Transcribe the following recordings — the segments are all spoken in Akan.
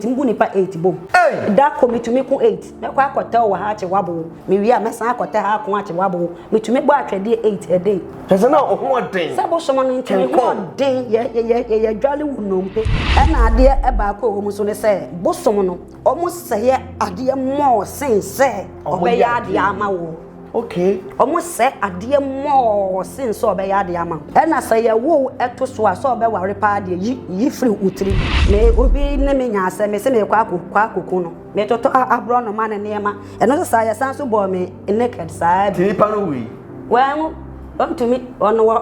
Tumi gu nipa eight bom. Ei! Da ko metumi ko eight. Mɛkɔ akɔtɛ wo wɔ ha akye w'abow. Mewie a, mɛsan akɔtɛ ha ako akye w'abow. Metumi bɔ atwɛdeɛ eight a day. Kyerɛ sɛ na ɔhoɔden. Sɛ bosom no nti ne hoɔden yɛ yɛ yɛ yɛ dwale wo nnompe. Ɛna adeɛ baako a ɛwɔ mu nso ne sɛ, bosom no, wɔsɛeɛ adeɛ more sen sɛ wɔbɛyɛ adeɛ ama wo. Okay. Ɔmo sɛ adeɛ mɔɔ sen sɛ ɔbɛyɛ adeɛ ama wo. Ɛna sɛ yɛwo wo ɛto so a sɛ ɔbɛware paa deɛ yi yi firi wo tiri mu. Me obi ne me nya asɛm me se meekɔ akɔ kɔ akɔku no. Me totɔ aborɔnoma ne nneɛma. Ɛno nso saa yɛsan nso bɔɔ me naked saa bi. Nti nipa no wui? Wanwu. Ɔntumi. Ɔno wɔ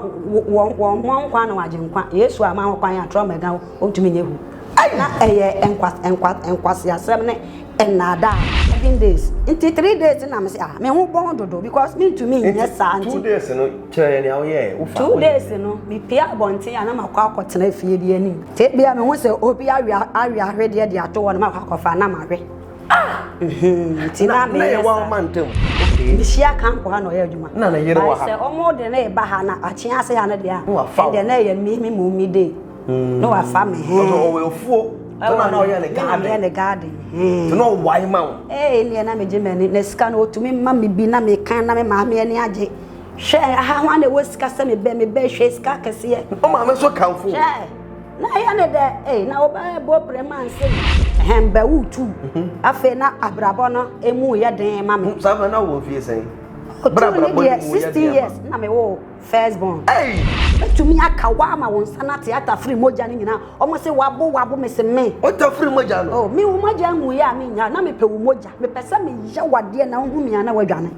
wɔ wɔ mmɔ nkwa na wagye nkwa. Yesu ama ho kwan a trauma agya wo. Ɔntumi nyɛ hu. Ei! Na ɛyɛ nkwa nkwa nkwaseasɛm ne Nnaadaa. Seven days nti three days na mese ah me ho bɔn dodo because mentumi nyɛ saa nti. Two days no kyerɛ yɛ nea woyɛɛ wofa. Two days no mepie abɔnten a na makɔ akɔtena fie bi anim. Fie bi a mehu sɛ obi awe awe ahwedeɛ de ato hɔ no makɔ akɔfa na mahwe. Ah! Nti na meyɛ saa. Na yɛ wɔn ma ntam. Mehyia kanko ha na ɔyɛ adwuma. Na ne yere wɔ ha. Sɛ wɔn de ne ba ha na akyea ase ha no deɛ a. Ɛdeɛ na ɛyɛ me me mu me day. mm. na wafa me he ɔsɛ ɔwɔ afuo ɛna na ɔyɛ ne garden ɔyɛ ne garden he na ɔwae ma wo ee neɛ na megye m'ani na sika no ɔtumi ma me bi na mekan na me maame ani agye hwɛ aha ho ana ɛwɔ sika sɛ mebɛ mebɛ hwɛ sika kɛseɛ ɔmaame so kamfo hwɛ na ɛyɛ ne dɛ ee na wobɛbɔ prɛ ma nse hɛn bɛ wo tu mhm. afei na abrabɔ no emu yɛ den ma me saa fɛ na wɔ fie sɛn brabra bɔ ne mu yɛ den ma 16 years na me wo First born. Ei! Mɛtumi aka wo ama wo nsa no ate ata firi mogya no nyinaa. Wɔn se wabo wabo me se me. Ɔta firi mogya no. Oh me wo mogya nguiɛ a me nya na me pɛ wo mogya me pɛ sɛ me yɛ wo adeɛ na wo hu me a na wadwane.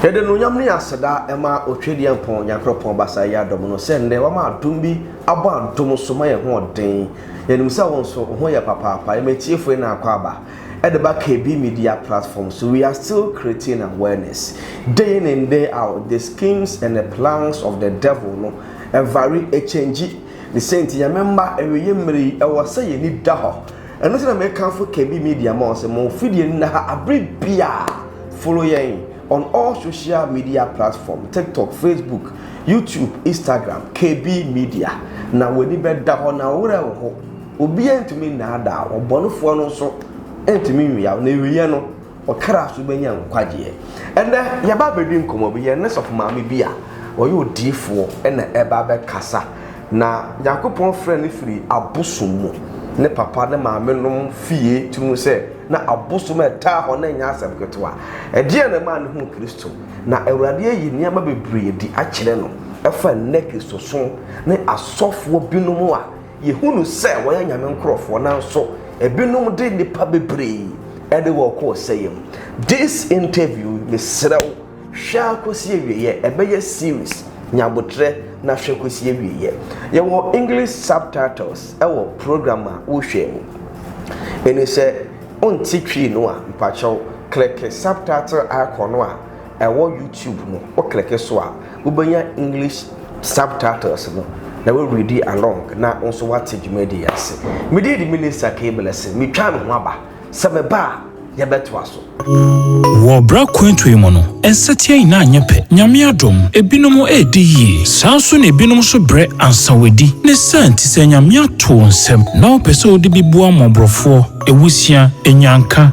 Yɛde anuonyam ne aseda ma Otwadiampɔn Nyankorɔpɔn Basaayɛ Adom no sɛ nnɛ wama adom bi abɔ adom so ma yɛn hoɔden. Yɛnim sɛ wo nso wo ho yɛ papaapa. Yɛma atiefo yi no akwaaba de ba KB Media platform so. We are still creating awareness day in and day out the schemes and the plans of the devil no vary, ɛkyɛngyi. Ne sɛ nti Nyame mma awieɛ mmerɛ yi ɛwɔ sɛ yɛn ani da hɔ. Ɛno nti na mekamfo Kebi Media ma wɔn sɛ mo fidie no nna ha abere biara. Follow yɛn on all social media platform, TikTok, Facebook, YouTube, Instagram, Kebi Media. Na w'ani bɛda hɔ na wo werɛ reho. Obiara ntumi nnaadaa wo, ɔbɔnefoɔ no nso ntumi nwiaw, n'awieɛ no. Ɔkra so bɛnya nkwagyeɛ. Ɛnnɛ yɛba abɛdi nkɔmmɔ bi, yɛne sɔfo maame bi a ɔyɛ odiyifoɔ na ɛba abɛkasa. Na Nyankopɔn frɛɛ no firi abosom mu. Ne papa ne maame nom fie tiri mu sɛ na abosom a ɛtaa hɔ no ɛnyɛ asɛm ketewa. Ɛdeɛn na ɛmaa no huu Kristo? Na Awurade ayi nneɛma bebree adi akyerɛ no ɛfa nnɛ Kristosom ne asɔfoɔ binom a Yɛhunu sɛ wɔyɛ Nyame nkorɔfoɔ nanso ebinom de nnipa bebree de wɔn kɔ ɔsɛeɛ mu. This interview mesrɛ wo hwɛ ara kɔsi awieɛ, ɛbɛyɛ series, nya aboterɛ na hwɛ kɔsi awieɛ. Yɛwɔ English subtitles wɔ program a wohwɛ mu. Ɛni sɛ wonte Twi no a, mpakyɛw click subtitle icon no a ɛwɔ YouTube no wo kleke so a wobɛnya English subtitles no na wo readi along na wo nso woate dwumadi yi ase. Medin de Minister K. Blessing, metwaa me ho aba, sɛ meba a yɛbɛtoa so. Wɔ bere akwantu yi mu no, nsatia nyinaa nyɛ pɛ. Nyame adom, ebinom redi yie. Saa ara nso na ebinom nso brɛ ansa wɔadi. Ne saa nti, sɛ Nyame ato wo nsam na wopɛ sɛ wode bi boa mmɔborɔfoɔ, awusia, anyanka,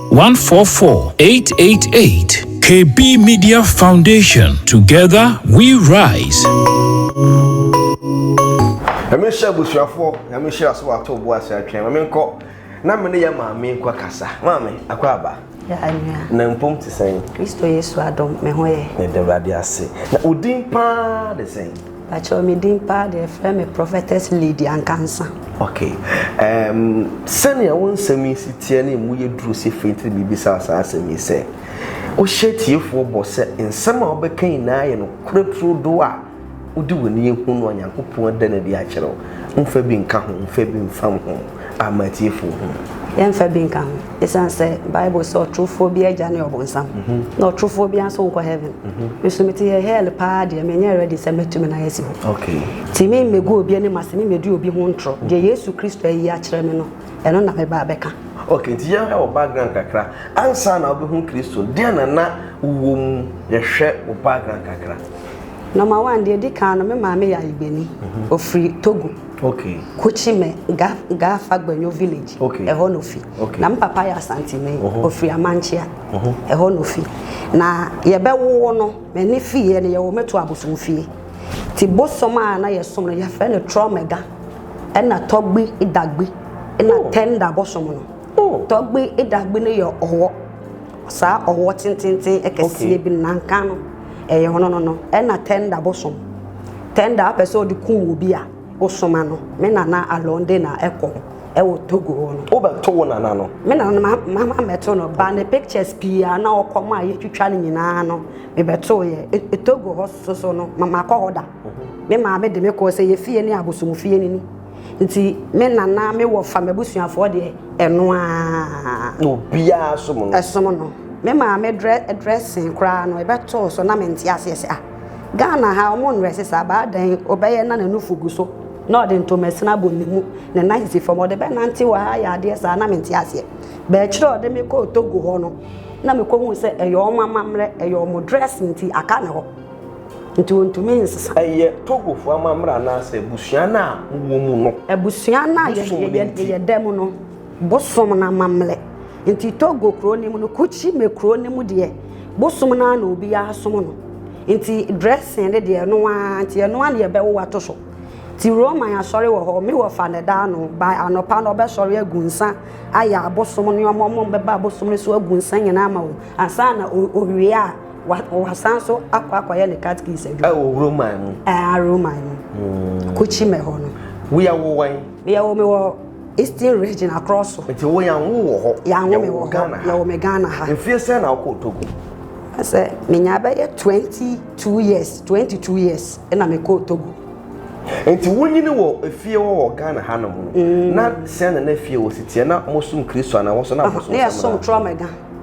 one four four eight eight eight KB Media Foundation together we rise. Nyame nhyɛ abusuafoɔ, nyame nhyira so wato bo ase atwɛn. Mame nkɔ na mene yɛ maame nkɔ kasa. Maame, akɔ aba. Na mpom te sɛn? Kristo Yesu adom, me ho yɛ. Yɛda Awurade ase. Na wo din paa de sɛn? Pakyɛw me din paa deɛ frɛ me Prophetess Lady Ankansa. Ok ɛɛm sɛnea wo nsɛm yi si teɛ ne emu yɛ duru sɛ fɛ ntiri mibisaa saa asɛm yi sɛ wo hyɛ atiefoɔ bɔ sɛ nsɛm a wo bɛ ka nyinaa yɛ nokorɛ turo doɔ a wo de w'ani ahunu a Nyankopɔn ada no adi akyerɛ wo nfa bi nka ho nfa bi nfam ho. amma atiefo ho. Yɛmfa bi nka ho. Esiane sɛ Bible se ɔtorofoɔ bi agya ne ɔbonsam, na ɔtorofoɔ biara nso nkɔ heaven. Me nso mete hɛ hell paa deɛ menyɛ ready sɛ mɛtu me nan asi hɔ. Nti me mmɛgu obi anim ase, me mmɛdi obi ho ntorɔ. Deɛ Yesu Kristo ayi akyerɛ me no, ɛno na mɛba abɛka. Ok, nti yɛnhwɛ wo background kakra. Ansa na wobɛhu Kristo no, deɛn na na wowɔ mu? Yɛhwɛ wo background kakra. Number one, deɛ ɛdi kan no, me maame yɛ ayigbenni. Ɔfiri Togo. Okay. Kuchime, Ga, Ga Fagbenyo village, Okay. ɛhɔ na ofi. Okay. Na me papa yɛ Asantini, Oho. ofiri Amankyea, Oho. ɛhɔ na ofi. Na yɛbɛwo no, m'ani fieɛ no yɛwo me to abosomfie. Nti bosom a na yɛsom no yɛfrɛ no Trɔmɛga, ɛna Tɔgbi, Dagbi, ɛna Oh. Tɛnda bosom no. Oh. Tɔgbe edagbe no yɛ ɔwɔ. Saa ɔwɔ tententen ɛkɛseɛ bi nanka no ɛyɛ ɔno no no ɛna tɛnda bosom. Tɛnda apɛ sɛ ɔde kum obi a wosoma no. Me nana alɔnde na ɛkɔ ɛwɔ Togo hɔ no. Wobɛto wo nana no? Me nana no ma ma ma mɛto no ba ne pictures pii a na ɔkɔ mu a yɛtwitwa no nyinaa no mebɛtoo yɛ. E, e Togo hɔ soso no ma makɔ hɔ da. Me maame de me kɔɔ sɛ yɛ fie ne abosomfie no ni. nti me nana me wɔfa m'abusuafoɔ deɛ ɛno aa na obiara som no ɛsom no me maame dressing koraa no ɛbɛtoo so na mente aseɛ sɛ ah Ghana ha ɔmo nrɛse saa baa dɛn ɔbɛyɛ na n'anufo gu so na ɔde ntomasini abɔ ne mu ne nan sisi fam ɔde bɛnante wɔ ha yɛ adeɛ saa na mente aseɛ bɛɛkyerɛ ɔde me kɔɔ Togo hɔ no na mekɔhu sɛ ɛyɛ ɔmo amammerɛ ɛyɛ ɔmo dress nti aka ne hɔ Nti wɔntumi nsesa. Ɛyɛ Togofo amammerɛ anaasɛ abusua no a mowɔ mu no. Abusua no a yɛyɛ da mu no bosom no amammerɛ nti Togo kuro no mu no Kutshi me kuro no mu deɛ bosom no ara na obiara som no nti dressing no deɛ ɛno ara nti ɛno ara na yɛbɛwo ato so nti Roman asɔre wɔ hɔ me wɔ fa ne da ano by anɔpa no ɔbɛsɔre agu nsa ayɛ abosom no ɔmo ɔmo bɛba abosom no so agu nsa nyinaa ma wo ansa na owie a wasan nso akɔ akɔyɛ ne catechies adwuma. ɛwɔ roman mu. ɛɛ roman mu. Hmm. kuchime hɔ no. woyɛ wo wan. yɛ wo mi wɔ eastern region across so. nti wo yan wo wɔ hɔ. yan wo mi wɔ hɔ yɛ wɔ mi ghana ha. nfiɛ sɛ na ɔkɔ togo. sɛ menya bɛyɛ twenty two years twenty two years ɛna mi kɔ togo. nti wonyini wɔ efie wɔ wɔ ghana ha nom no mm. na sɛn na na efie wɔ si tiɛ na mo sum kristu ana wɔsɔ na mo sum sɛm na. ne yɛ sum trɔmɛ gan.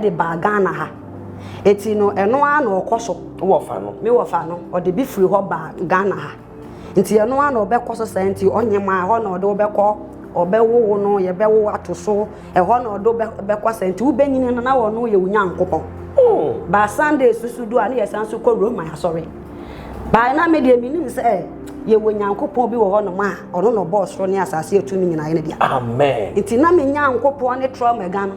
de baa Ghana ha. Enti no, ɛno ara na ɔkɔ so. Wɔfa no. Me wɔfa no. Ɔde bi firi hɔ baa Ghana ha. Nti ɛno ara na ɔbɛkɔ so saa nti ɔnye ma ɛhɔ na ɔde wobɛkɔ ɔbɛwowo no yɛbɛwo ato so ɛhɔ na ɔde bɛkɔ saa nti wobɛnyini no na ɔno yɛ wo nyankopɔn hmm. baa sunday susu do a ne yɛsan so kɔ roma asɔre baa na me deɛ menim sɛ eh, yɛwɔ nyankopɔn bi wɔ hɔ nom a ɔno na ɔbɔɔ soro ne asase atum nyinaa yɛ no deɛ amen nti na me nyankopɔn ne trɔ mɛga no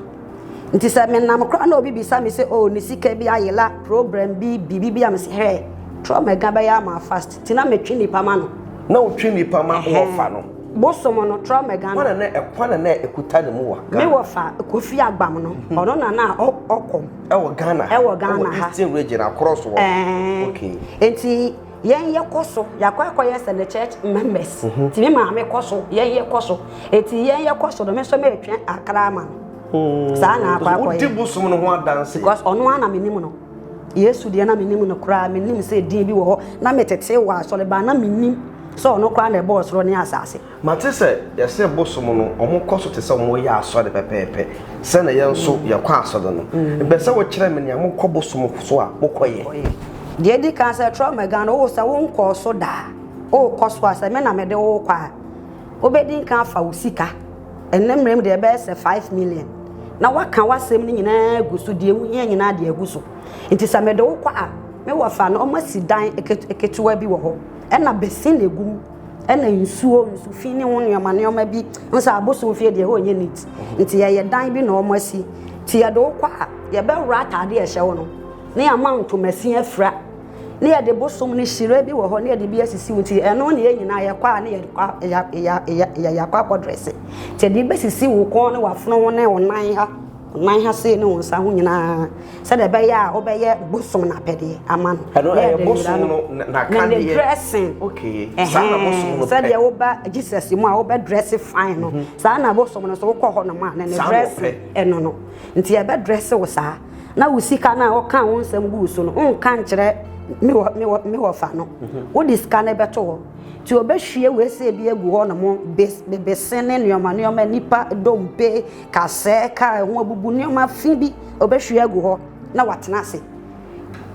Nti sɛ me nam koraa na obi bisa me sɛ oh ne sika bi ayela program bi biribi bi a me sɛ hɛ trɔ ma ɛga bɛyɛ ama fast ti na metwe nipa ma no. Na wotwe nipa ma wɔfa no. Bosom no trɔ ma ɛga no. Kwana na kwana na ɛkuta ne mu wa. Me wɔfa kofi agbam no ɔno na na ɔkɔm. Ɛwɔ Ghana ha. Ɛwɔ Ghana ha. Ɛwɔ Eastern region akorɔ so wɔ. Ɛɛ. Okay. Nti. yɛn yɛ kɔ so yɛakɔ akɔyɛ sɛ ne church members mhm. ti me maame kɔ so yɛn yɛ kɔ so eti yɛn yɛ kɔ so no me nso meretwɛn akra ama no hmm. saa na akɔ akɔyɛ wodi bosom no ho adanse because ɔno ara na menim no yesu deɛ na menim no koraa menim sɛ din bi wɔ hɔ na metete wɔ asɔre baa na menim sɛ ɔno koraa na ɛbɔɔ soro ne asase Mate sɛ yɛse bosom no ɔmo kɔ so te sɛ ɔmo yɛ asɔre pɛpɛɛpɛ sɛ na yɛn nso yɛkɔ asɔre no. Mepɛ sɛ wo kyerɛ me nea mo kɔ bosom so a mo kɔ yɛ. Deɛ edi kan sɛ trɔ ma gan no wo sɛ wo nkɔɔ so da a wo kɔ so a sɛ me na me de wo kɔ a wo bɛ di nkan afa wo sika ɛnɛ mmerɛ mu deɛ ɛbɛyɛ sɛ five million na waka w'asɛm no nyinaa agu so deɛ wo hia nyinaa deɛ agu so nti sɛ me de wo kɔ a me wɔ fa no ɔma si dan ketewa bi wɔ hɔ ɛna bɛ si na egum. ɛna nsuo nsu fi ne ho nneɛma nneɛma bi n sɛ abosom fie deɛ hɔ nyɛ neat mhm. nti yɛyɛ dan bi na wɔn asi nti yɛde wo kɔ a yɛbɛwura ataade ɛhyɛ wo no ne yɛama ntoma si afira ne yɛde bosom ne hyire bi wɔ hɔ ne yɛde bi asisi wo nti ɛno ne yɛn nyinaa yɛkɔ a ne yɛyɛakɔ akɔdrɛse nti yɛde bɛsisi wo kɔn ne wafono ho ne wo nan ha Nguan ha sei ne wo nsa ho nyinaa, sɛdeɛ ɛbɛyɛ a wobɛyɛ bosom no apɛdeɛ ama no. Ɛno ɛyɛ bosom no n'akadeɛ. Ne dressing. Okay. Saa na bosom no pɛ. Sɛdeɛ woba Jesus mu a wobɛ dress fine no. Mhm. Saa na bosom no so wokɔ hɔ nom a ne ne dressing ɛno no. Nti ɛbɛ dress wo saa. Na wo sika no a woka wo nsɛm guu so no wonka nkyerɛ me wɔ me wɔ me wɔfa no. Mhm. Wode sika no bɛto hɔ. Nti wɔbɛhwie wei sɛ bi agu hɔ nom bese ne nneɛma nneɛma nipa dompe Ka sɛɛ ka ɛho abubu nneɛma fi bi ɔbɛhwie agu hɔ na watena ase.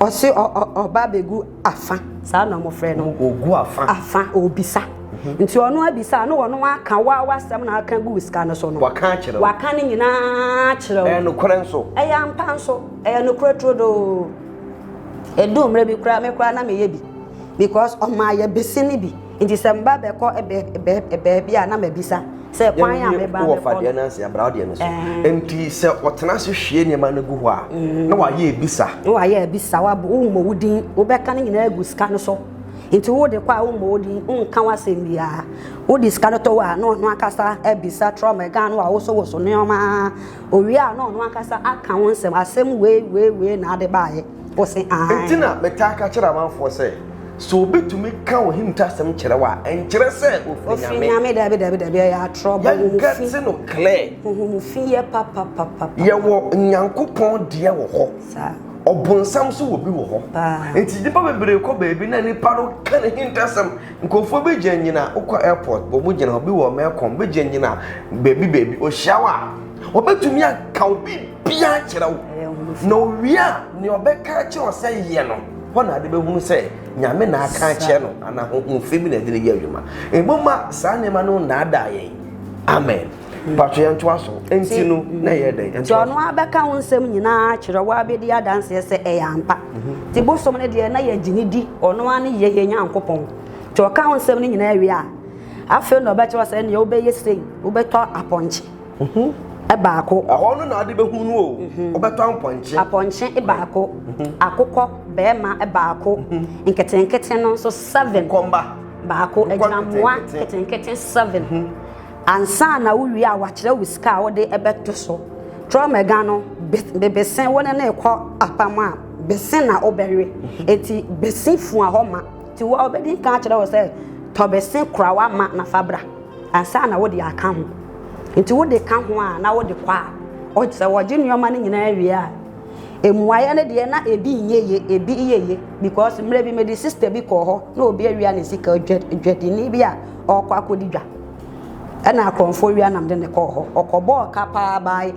Ɔse ɔba abɛgu afa, saa na wɔfrɛ no. Ɔgu afa. Afa, ɔbisa. Mhm. Nti ɔno abisa na ɔno aka wa wasɛm na aka gu sika no so no. Waka akyerɛ wo. Waka ne nyinaa kyerɛ wo. Ɛyɛ nokorɛ nso. Ɛyɛ ampa nso. Ɛyɛ nokorɛ turodoo. Ɛdu mmerɛ bi koraa me koraa na meyɛ bi because ɔmaa yɛ bese ne bi. Nti sɛ mba bɛkɔ baabi a na mabisa sɛ kwan a meba bɛkɔ no. Wɔfa deɛ no ansi abra deɛ no so. Nti sɛ ɔtena ase hwie nneɛma no gu hɔ a na wayɛ abisa. Na wayɛ abisa wabɔ wommɔ wo din wobɛka ne nyinaa agu sika no so. Nti wode kɔ a wommɔ wo din wonka w'asɛm biara. Wode sika no tɔ hɔ a na ɔno ankasa abisa trɔma ɛga no a wosowoso nneɛma. Owie a na ɔno ankasa aka wo nsɛm asɛm wei wei wei na ade baeɛ. Ɔse, Aane. Enti na metaa ka kyerɛ amanfoɔ sɛ, Sɛ obi tumi ka Ohim tasɛm kyerɛ wo a, ɛnkyerɛ sɛ ɔfiri Nyame. Ɔfiri Nyame, dabi, dabi, dabi, ɛyɛ atorɔ, bɔ wo ho fi. Yɛnka te no clear. Bɔ wo ho fi yɛ papapapapa. Yɛwɔ Nyankopɔn deɛ wɔ hɔ. Saa. Ɔbonsam nso wɔ bi wɔ hɔ. Paa. Enti nnipa bebree kɔ baabi na nnipa no ka n'ahintasɛm. Nkurɔfoɔ bi gyina nyina, wokɔ airport, bɔ mo gyina hɔ, bi wɔ Melcom, bi gyina nyina baabi baabi, ɔhyia wo a, ɔbɛtumi aka wo bi. biara nkyerɛ wo na owie a nea ɔbɛka akyerɛ wo sɛ yɛ no hɔ na ade bɛhunu sɛ nyame na aka akyerɛ no anaa honhom fɛ bi na ɛde no yɛ adwuma ɛmu ma saa nneɛma no nnaadaa yɛn amen patro yɛn ntoa so nti no na ɛyɛ dɛn nti ɔno abɛka wo nsɛm nyinaa akyerɛ wo abɛdi adanseɛ sɛ ɛyɛ ampa nti bosom no deɛ na yɛgye ne di ɔno a ne yɛ yɛ nyankopɔn nti ɔka wo nsɛm no nyinaa wie a afei na ɔbɛkyerɛ sɛ neɛ wobɛyɛ sei wobɛtɔ apɔnkye Ho baako. Ɛhɔ no na ade bɛhu no o, wobɛtɔ apɔnkye. Apɔnkye baako, akokɔ barima baako, nketenkete no nso seven. Kɔmba. Baako, agyinamoa nketenkete seven. Ansa na wowie a wakyerɛ wo sika a wode bɛto so. Trɔmɛga no, bese wo ne no rekɔ apam a, bese na wobɛwe. Enti bese fua hɔ ma. Ti wo a obedi nka akyerɛ wo sɛ tɔ bese kora wa ma na fa bra ansa na wode aka ho. Nti wode ka ho a na wode kɔ a ɔgye sɛ wɔgye nneɛma no nyinaa wie a mmuaeɛ no deɛ na ebi nyɛ ye ebi yɛ ye because mmerɛ bi mede sister bi kɔɔ hɔ na obi awia ne sika dwadini bi a ɔkɔ akɔdi dwa ɛna akorɔmfoɔ wia nam de ne kɔɔ hɔ ɔkɔbɔɔ ka paa baae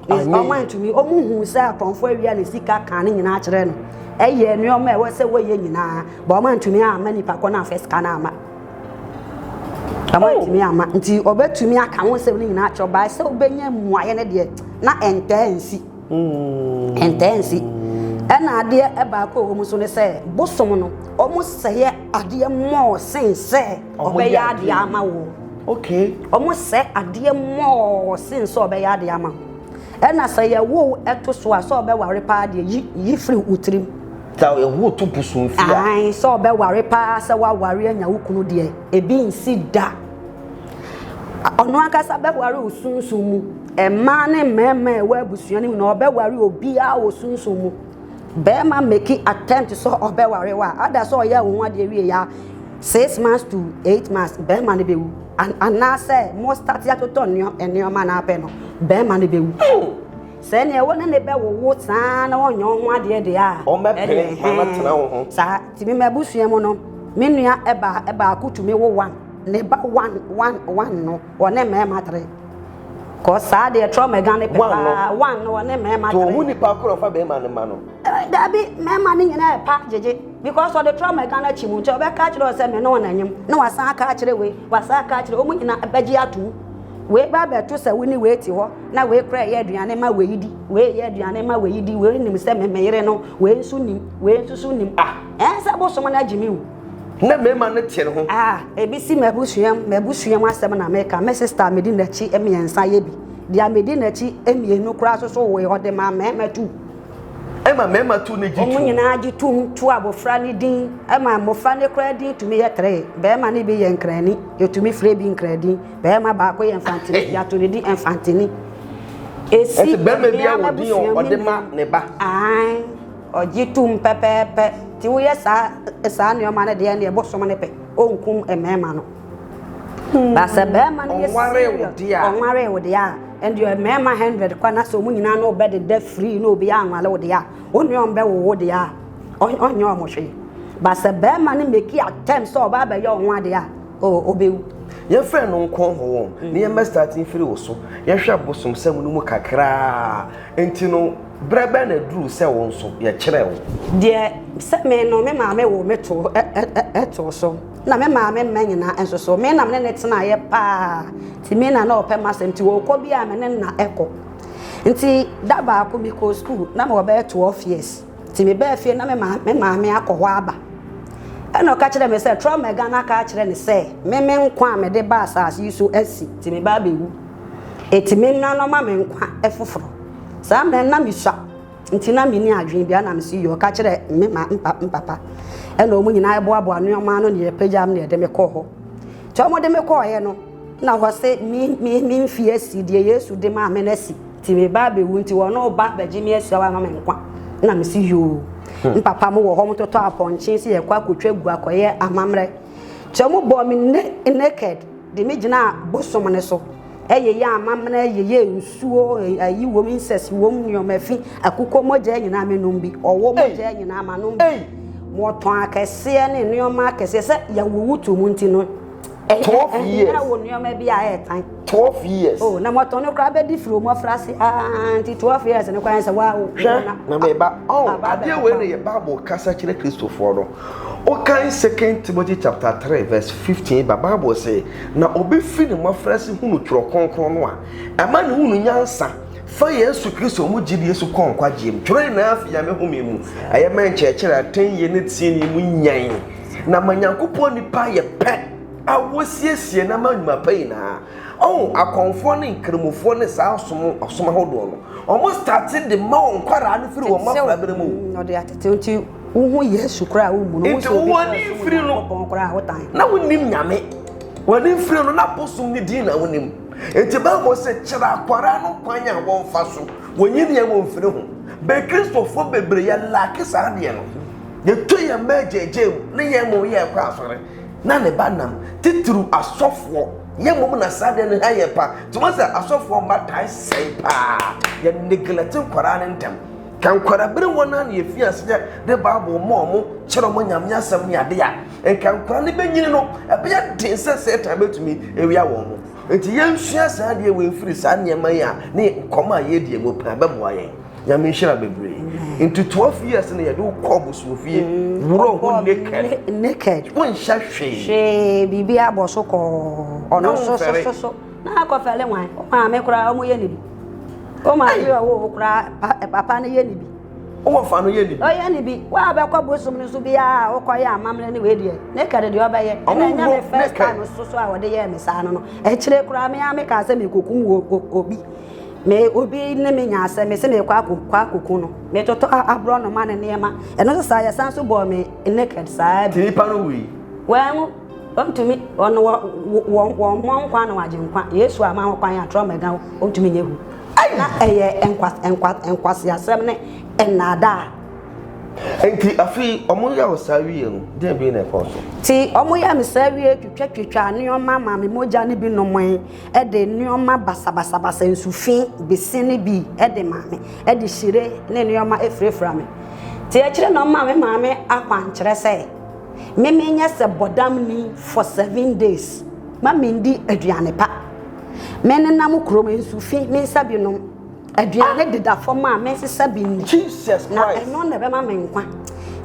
wɔn antumi wɔn hu sɛ akɔnfo awia ne sika kan ne nyinaa kyerɛ no ɛyɛ nneɛma ɛwɔ sɛ wɔyɛ nyinaa bɔ wɔn antumi ama nipa kɔ na afɛ sika no ama wɔn oh. antumi ama nti ɔbɛtumi aka ho sɛ ne nyinaa kyerɛ ɔbaa sɛ ɔbɛnya mmuaeɛ no deɛ na ɛntɛɛ nsi hmm. ɛntɛɛ nsi ɛna adeɛ ɛbaako a wɔn so ne sɛ bosom no wɔn sɛyɛ adeɛ mɔɔ sen sɛ ɔbɛyɛ adeɛ ama wo okay ɔmo sɛ adeɛ mɔɔ sen sɛ ɔbɛyɛ adeɛ ama wo ɛna sɛ yɛwo ɛto so a sɛ ɔbɛware paa deɛ yi yi firi wo tirim ta ɛho to pusu mfi a ae sɛ ɔbɛware paa sɛ woaware anya wo kunu deɛ ebi nsi da ɔno ankasa bɛware wo sunsun mu mmaa ne mmarima ɛwɔ abusua no mu na ɔbɛware obiara wɔ sunsun mu Bɛɛma meki attempt sɛ ɔbɛware wo a ada sɛ ɔyɛɛ wo ho adeɛ wie ya 6 months to 8 months bɛɛma no bɛwu anaasɛ mo start atotɔ nneɛma no apɛ no bɛɛma no bɛwu oh! sɛ neɛ wo ne ne bɛwowo saa na ɔnyɛ wo ho adeɛ deɛ a ɔmɛpere ma no tena wo ho saa nti me mabusua mu no me nua ɛbaa ɛbaako tumi wo one ne ba one one one no ɔne mɛɛma tere Kɔ saa deɛ trɔ mɛga ne pɛ paa wan no ɔne mɛɛma tere. To ɔhu nipa korɔ fa bɛɛma ne ma no. Dabi mɛɛma ne nyina yɛ pa gyegye because ɔde trɔ mɛga no akyi mu nti ɔbɛ ka akyerɛ ɔsɛ me ne ɔna nyim na wa san aka akyerɛ wei wa san aka akyerɛ ɔmu nyina bɛ gye atom wei ba bɛ to sɛ wo ne wei te hɔ na wei korɛ yɛ aduane ma wei di wei yɛ aduane ma wei di wei nim sɛ me me yere no wei nso nim wei nso so nim ah ɛɛ sɛ bosom no agye me wu. na mmarima no te ne ho. a ebi si m'abusuam m'abusuam asɛm na meka me sista a medi n'akyi mmiɛnsa yɛ bi deɛ a medi n'akyi mmienu koraa so so wee ɔde maa mmarima tu ɛma mmarima tu ne gye tum wɔn nyinaa gye tum tu abɔfra ne din ɛma mmɔfra ne koraa din tumi yɛ tere barima ne bi yɛ nkrani yɛtumi frɛ bi nkradin barima baako yɛ mfantini yɛato ne din mfantini ɛsi barima bi a wɔdin ɔde ma ne ba Ɔgye tom pɛpɛɛpɛ. Nti woyɛ saa saa nnoɔma no deɛ ɛneɛ bosom no pɛ ɔnkum mmarima no but sɛ barima no yɛ serious ɔnwaree wo deɛ a ɛndeɛ mmarima hundred kɔ na sɛ ɔmo nyinaa ne ɔbɛdeda free na obiara anwale wo deɛ a ɔnneɛ ɔmbɛwo wo deɛ a ɔnyɛ ɔmo hwee but sɛ barima no meki attempt sɛ ɔba abɛyɛ ɔho adeɛ a oh ɔbɛwu yɛmfrɛ no nkɔn ho wɔn ne yɛmmɛ starting firi wo so yɛnhwɛ bosomsɛm no mu kakraa nti no Berɛ bɛn na aduru sɛ wo nso yɛkyerɛ wo? Deɛ sɛ me no me maame woo me too so, na me maame mma nyinaa nso so, me na me ne no tenaeɛ pa ara, nti me na na ɔpɛ m'asɛm, nti ɔrekɔ biara me ne no na ɛkɔ. Nti da baako mekɔɔ sukuu, na mewɔ bɛyɛ 12 years, nti mebaa fie na me maame akɔ hɔ aba. Ɛna ɔka kyerɛɛ me sɛ, Traormɛga no aka akyerɛ no sɛ, me me nkwa a mede baa asase yi so asi, nti meba abɛwu. Enti me nua no ma me nkwa foforo. Saa mmerɛ no na me sua nti na me ni adwene bia na me si yɔ ka kyerɛ me ma mpa mpapa ɛna ɔmo nyinaa ɛboaboa nneɛma ano ne ɛpagya me ne ɛde me kɔɔ hɔ nti ɔmo de me kɔɔ yɛ no na hɔ se me me me mfi asi deɛ Yesu de maa me no asi nti me ba abɛwu nti wɔn no ba bɛgye me asua wa ma me nkwa na me si yoo hmm. mpapa mo wɔ hɔ mo totɔ apɔnkye si yɛ kɔ akɔtwa gu akɔyɛ amammerɛ nti ɔmo bɔ me naked De me gyinaa bosom no so. Ɛyɛ yɛ amammerɛ, yɛyɛ nsuo, ayi wom, incest wom, nneɛma fi, akokɔ mogya nyinaa menom bi, ɔwɔ mogya nyinaa manom bi, wɔtɔn akɛseɛ ne nneɛma akɛseɛ sɛ yɛwowo to mu nti no. Twelve eh, eh, years. Ɛnyɛ wo nneɛma bi a ɛɛtan. Twelve years. Oh, na wɔtɔn no koraa bɛdi firi wɔn afra ase aa nti twelve years no kwan sɛ wa. Hwɛ na meba. Oh, adeɛ wei na yɛ Bible kasa kyerɛ Kristofoɔ no. Wokan Second Timothy chapter three verse fifteen ba Bible se, Na obefi ne mmofraase hunu twerɛ kronkron no a ɛma ne hunu nyansa fa Yesu Kristo mu gyidie so kɔ nkwagyeɛ mu. Twerɛ nyinaa fi Nyame home mu, ɛyɛ mɛ nkyerɛkyerɛ a atɛnyie ne tenenee mu nyan, na ma Nyankopɔn nnipa yɛ pɛ a wɔsiesie no ama nnwuma pa nyinaa. Oh, akɔmfoɔ ne nkramofoɔ ne saa ɔsom ɔsom ahodoɔ no, wɔn starte de ma wɔn nkwadaa no firi wɔn mmɔfra bere mu. wohu yesu koraa womu no nti w'ani mfiri no na wonim nyame w'ani mfiri no na bosom ne din na wonim nti bible sɛ kyerɛ akwara no kwan a wɔmfa so wɔnyi neɛ wɔ mfiri ho bɛ kristofoɔ bebree yɛ laake saa deɛ no yɛtɔ yɛn mma agyagya mu ne yɛn mmom yɛ ɛkɔ asɔre na ne ba nam titiriw asɔfoɔ yɛn mmom na saa deɛ no ha yɛ pa nti wɔn sɛ asɔfoɔ mma tae sɛe paa yɛ neglect nkwaraa no ntɛm Ka nkwarabere wɔn a na yɛfii aseɛ de Bible ma wɔn, kyerɛ wɔn Nyame asɛm ne adeɛ a, nka nkwadaa no bɛnyini no, ɛbɛyɛ den sɛ Satan bɛtumi awia wɔn. Nti yɛnsua saa adeɛ wei mfiri saa nneɛma yi a ne nkɔmmɔ a yɛdie mu paa bɛboa yɛn. Nyame nhyira bebree. Nti 12 years no yɛde wokɔ abosomfie, worɔ ho naked. Naked. Wonhyɛ hwee. Hwee, biribi abɔ so kɔɔ. Ɔno so so so so. na akɔfɛle wan wo maame koraa ɔmo yɛ ne bi wo maame a ɔwɔ wo koraa papa no yɛ ne bi ɔwɔ fa no yɛ ne bi ɔyɛ ne bi wo a bɛkɔ bosom no so biara a wokɔyɛ amammerɛ ne wei deɛ ne kɛde deɛ ɔbɛyɛ ɛna ɛnyɛ me first time so so a wɔde yɛɛ me saa no no akyire koraa me a mekaa sɛ mekɔkum obi me obi ne me nya asɛ me sɛ mekɔ akɔku no metotɔ aborɔ noma ne nneɛma ɛno so saa yɛsan so bɔɔ me naked saa bi nipa no wei wɔn Ɔntumi, ɔno wɔ, wɔ, wɔ mmɔ nkwa na wagye nkwa. Yesu ama ho kwan a, trɔ mɛga wo, ɔntumi nyɛ hu. Na ɛyɛ nkwa, nkwa, nkwaseasɛm ne nnaadaa. Enti afei wɔyɛ wo saa wie no, deɛn bie na ɛkɔɔ so? Ti, wɔyɛ me saa wie, twitwatwitwaa nneɛma maa me mogya no bi nomee, ɛde nneɛma basabasabasa, nsufi, bese ne bi ɛde maa me, ɛde hyire ne nneɛma ɛfirafira me. Ti, akyire na wɔmaa me maame akwankyerɛ sɛ. me menyɛ sɛ bɔdamni for seven days ma mendi aduane pa menenam kurom nsu fi me nsa bi nom aduane deda fam a mensesa bi nni na ɛno na ɛbɛma me nkwa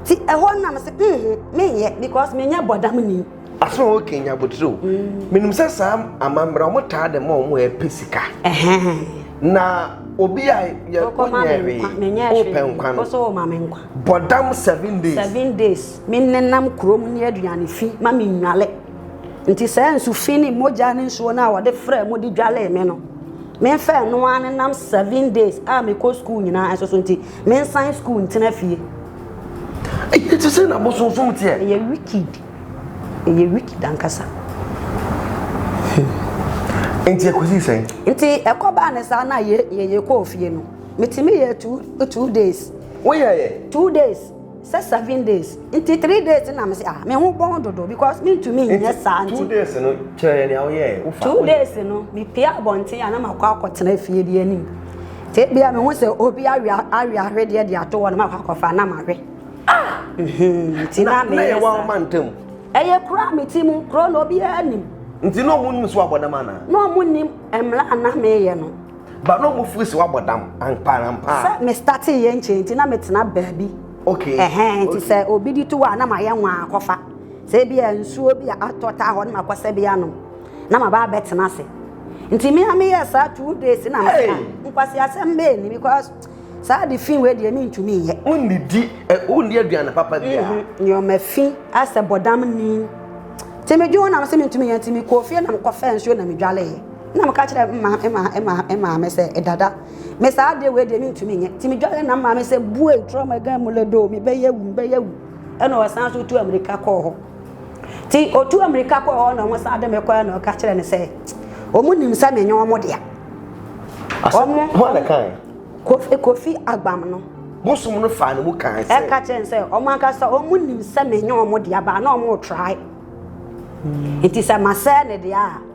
ti ɛhɔ nam sɛ mhm menyɛ because menyɛ bɔdamni asɛ ɔwɔ kenya abotire o mm. menim sɛ saa amammerɛ ɔmo taa de ma ɔmo ɛpɛ sika na obi a yɛkɔ nyɛ hwee wopɛ nkwa no Bɔdam seven days. Seven days. Me nenam kurom ne aduane fi ma me nnwale. Nti saa nsu fi ne mogya ne nsuo no a wɔde frɛ mo de dwalee me no. Me nfa ɛno ara nenam seven days a mekɔ sukuu nyinaa nso so nti me nsan sukuu ntena fie. Ɛyɛ te sɛ na bosonsom teɛ. Ɛyɛ wicked. Ɛyɛ wicked ankasa. Nti ɛkɔsi sɛn? Nti ɛkɔbaa ne saa na yɛ yɛ yɛkɔɔ fie no. Metumi yɛ two two days. Woyɛ yɛ. Two days sɛ seven days nti three days na mesi ah me ho bɔn dodo because mintumi nyɛ saa nti. Two days no kyerɛ nea woyɛ wofa. Two days no me pie abɔnten a na makɔ akɔtena fie bi anim. Te bia me ho sɛ obi awe awe ahwedeɛ de ato hɔ no makɔ akɔfa na mahwe. Ah! Mhm. Ti na me. Na yɛ wa ma ntam. Ɛyɛ kura me ti mu kuro na obi anim. Nti na ɔmo nim so abɔdam ana? Na ɔmo nim mmla ana meyɛ no. Ba no mo firi se wabɔ dam ampa na ampa. Sɛ me starting yɛ nkyɛn nti na me tena baabi. Okay. Ɛhɛn nti sɛ obi di to a na ma yɛ nwa akɔfa. Sɛ ebi a nsuo bi a atɔ taa hɔ na ma kɔsɛ bi anom. Na ma ba abɛ tena se. Nti me a me yɛ saa two days na me ka. Nkwasi asɛm bɛɛ ni because saa de fi wei deɛ me ntumi nyɛ. Wo nni di wo nni aduane papa bi a. Nneɛma fi asɛ bɔ dam ni. Nti me dwene ho na me se me ntumi nyɛ nti me kɔɔ fie na me kɔfɛ nsuo na me dwaleɛ. Na meka kyerɛ mma mma mma mma me sɛ dada me saa adeɛ wei deɛ mentumi nyɛ ti medware na mma me sɛ bue trɔma gan mu ledo mebɛyɛ wu mebɛyɛ wu ɛna ɔsan so tu amirika kɔɔ hɔ ti ɔtu amirika kɔɔ hɔ na ɔmo san de me kɔɛ na ɔka kyerɛ ne sɛ ɔmo nim sɛ menyɛ ɔmo dea ɔmo ho ana kan kofi kofi agbam no bosom no faa ne mu kan sɛ ɛka kyerɛ sɛ ɔmo ankasa ɔmo nim sɛ menyɛ ɔmo dea baa na ɔmo trae nti sɛ masɛɛ ne dea a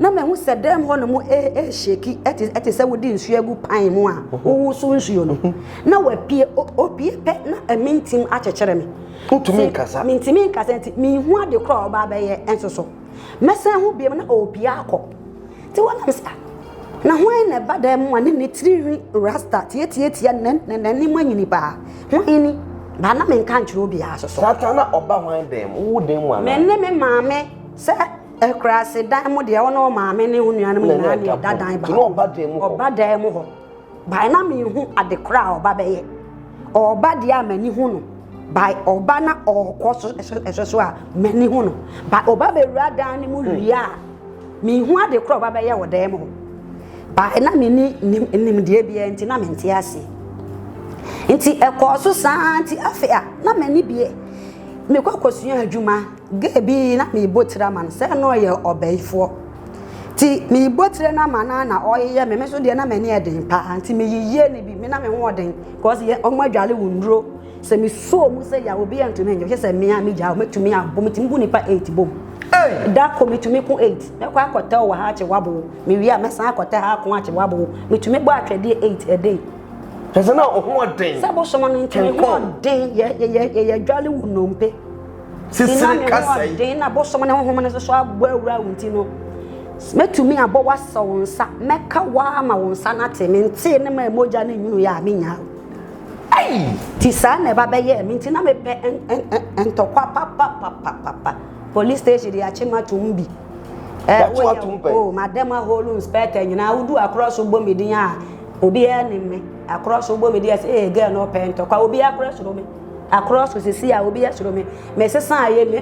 na mahu sɛ dan mu hɔ no mu ɛrehyɛki ɛte te sɛ wode nsuo agu pan mu a wowo so nsuo no na wapue opue pɛ na ɛmi ntim akyekyere me wotumi nkasa mentumi nkasa nti menhu ade korɔ a ɔbaa bɛyɛ nso so mɛsan ho biam na ɔrepue akɔ nti wɔnam sa na hwan na ɛba dan mu a ne ne tirinwi rasta tiatiatia n'anim anyini paa hwan ni baa na menka nkyerɛ obiara so so saa na ɔba hwan dan mu wo dan mu anaa me ne me maame sɛ Akuraase dan mu deɛ, wo ne wo maame ne wo nuanom nyinaa ne ɛda dan baako. Ɔba dan mu hɔ. Ɔba dan mu hɔ. Bae na mehu ade korɔ a ɔba bɛyɛ. Ɔba deɛ a m'ani hu no. Bae ɔba na ɔkɔ so ɛhwɛ so a m'ani hu no. Bae ɔba bɛwura dan no mu hmm. wie a mehu ade korɔ ɔba bɛyɛ wɔ dan mu hɔ. Bae na menni nimdeɛ biara nti na mente ase. Nti ɛkɔɔ so saa nti afei a na m'ani bie. Mekɔ kɔsua adwuma. Gɛɛ bi na meebɔ tsir ama no, sɛ nna ɔyɛ ɔbɛyifoɔ ntsi meebɔ tsir no ama no a na ɔyeyɛ me, me so deɛ na m'ani yɛ den paa ntsi meyeyɛɛ no bi, me na me ho ɔden cause yɛ ɔmo adwale wo nnuro, sɛ me suoo mu sɛ yaw obi anntumi nnyɛ, wohwɛ sɛ me a megyaa hɔ mɛtumi abɔ, metumi bu nipa eight bom, da ko metumi ko eight, mɛkɔ akɔtɛw wɔ ha akye wabow, mewie a mɛsan akɔtɛ ha ako akye wabow, metumi bɔ atwɛdeɛ eight a day. Kyerɛ sɛ na ɔho ɔden. Sɛ bosom no ntsi me ho ɔden, yɛ yɛ yɛ yɛyɛ adwale wo nnompe. sesere kasa yi. Nna me ho ɔden na bosom ne honhom no nso so abɔ awura wo nti no, mɛtumi abɔ w'asɛ wo nsa, mɛka waa ma wo nsa no ate, mentee ne ma mogya ne nwunu yɛ a menya. Ti saa na ɛba bɛyɛɛ me nti na mepɛ ntɔkwa papapapapa. Police station de akye matom bi. Yàtò atum pɛ. Oh, madam aholo inspector nyinaa wodu akorɔ so bɔ me din a obiara nim me. Akorɔ so bɔ me din a sɛ ee girl no ɔpɛ ntɔkwa obiara korɛ soro me. akorɔ so sisi a obi ɛsoro me mesesa ayɛ me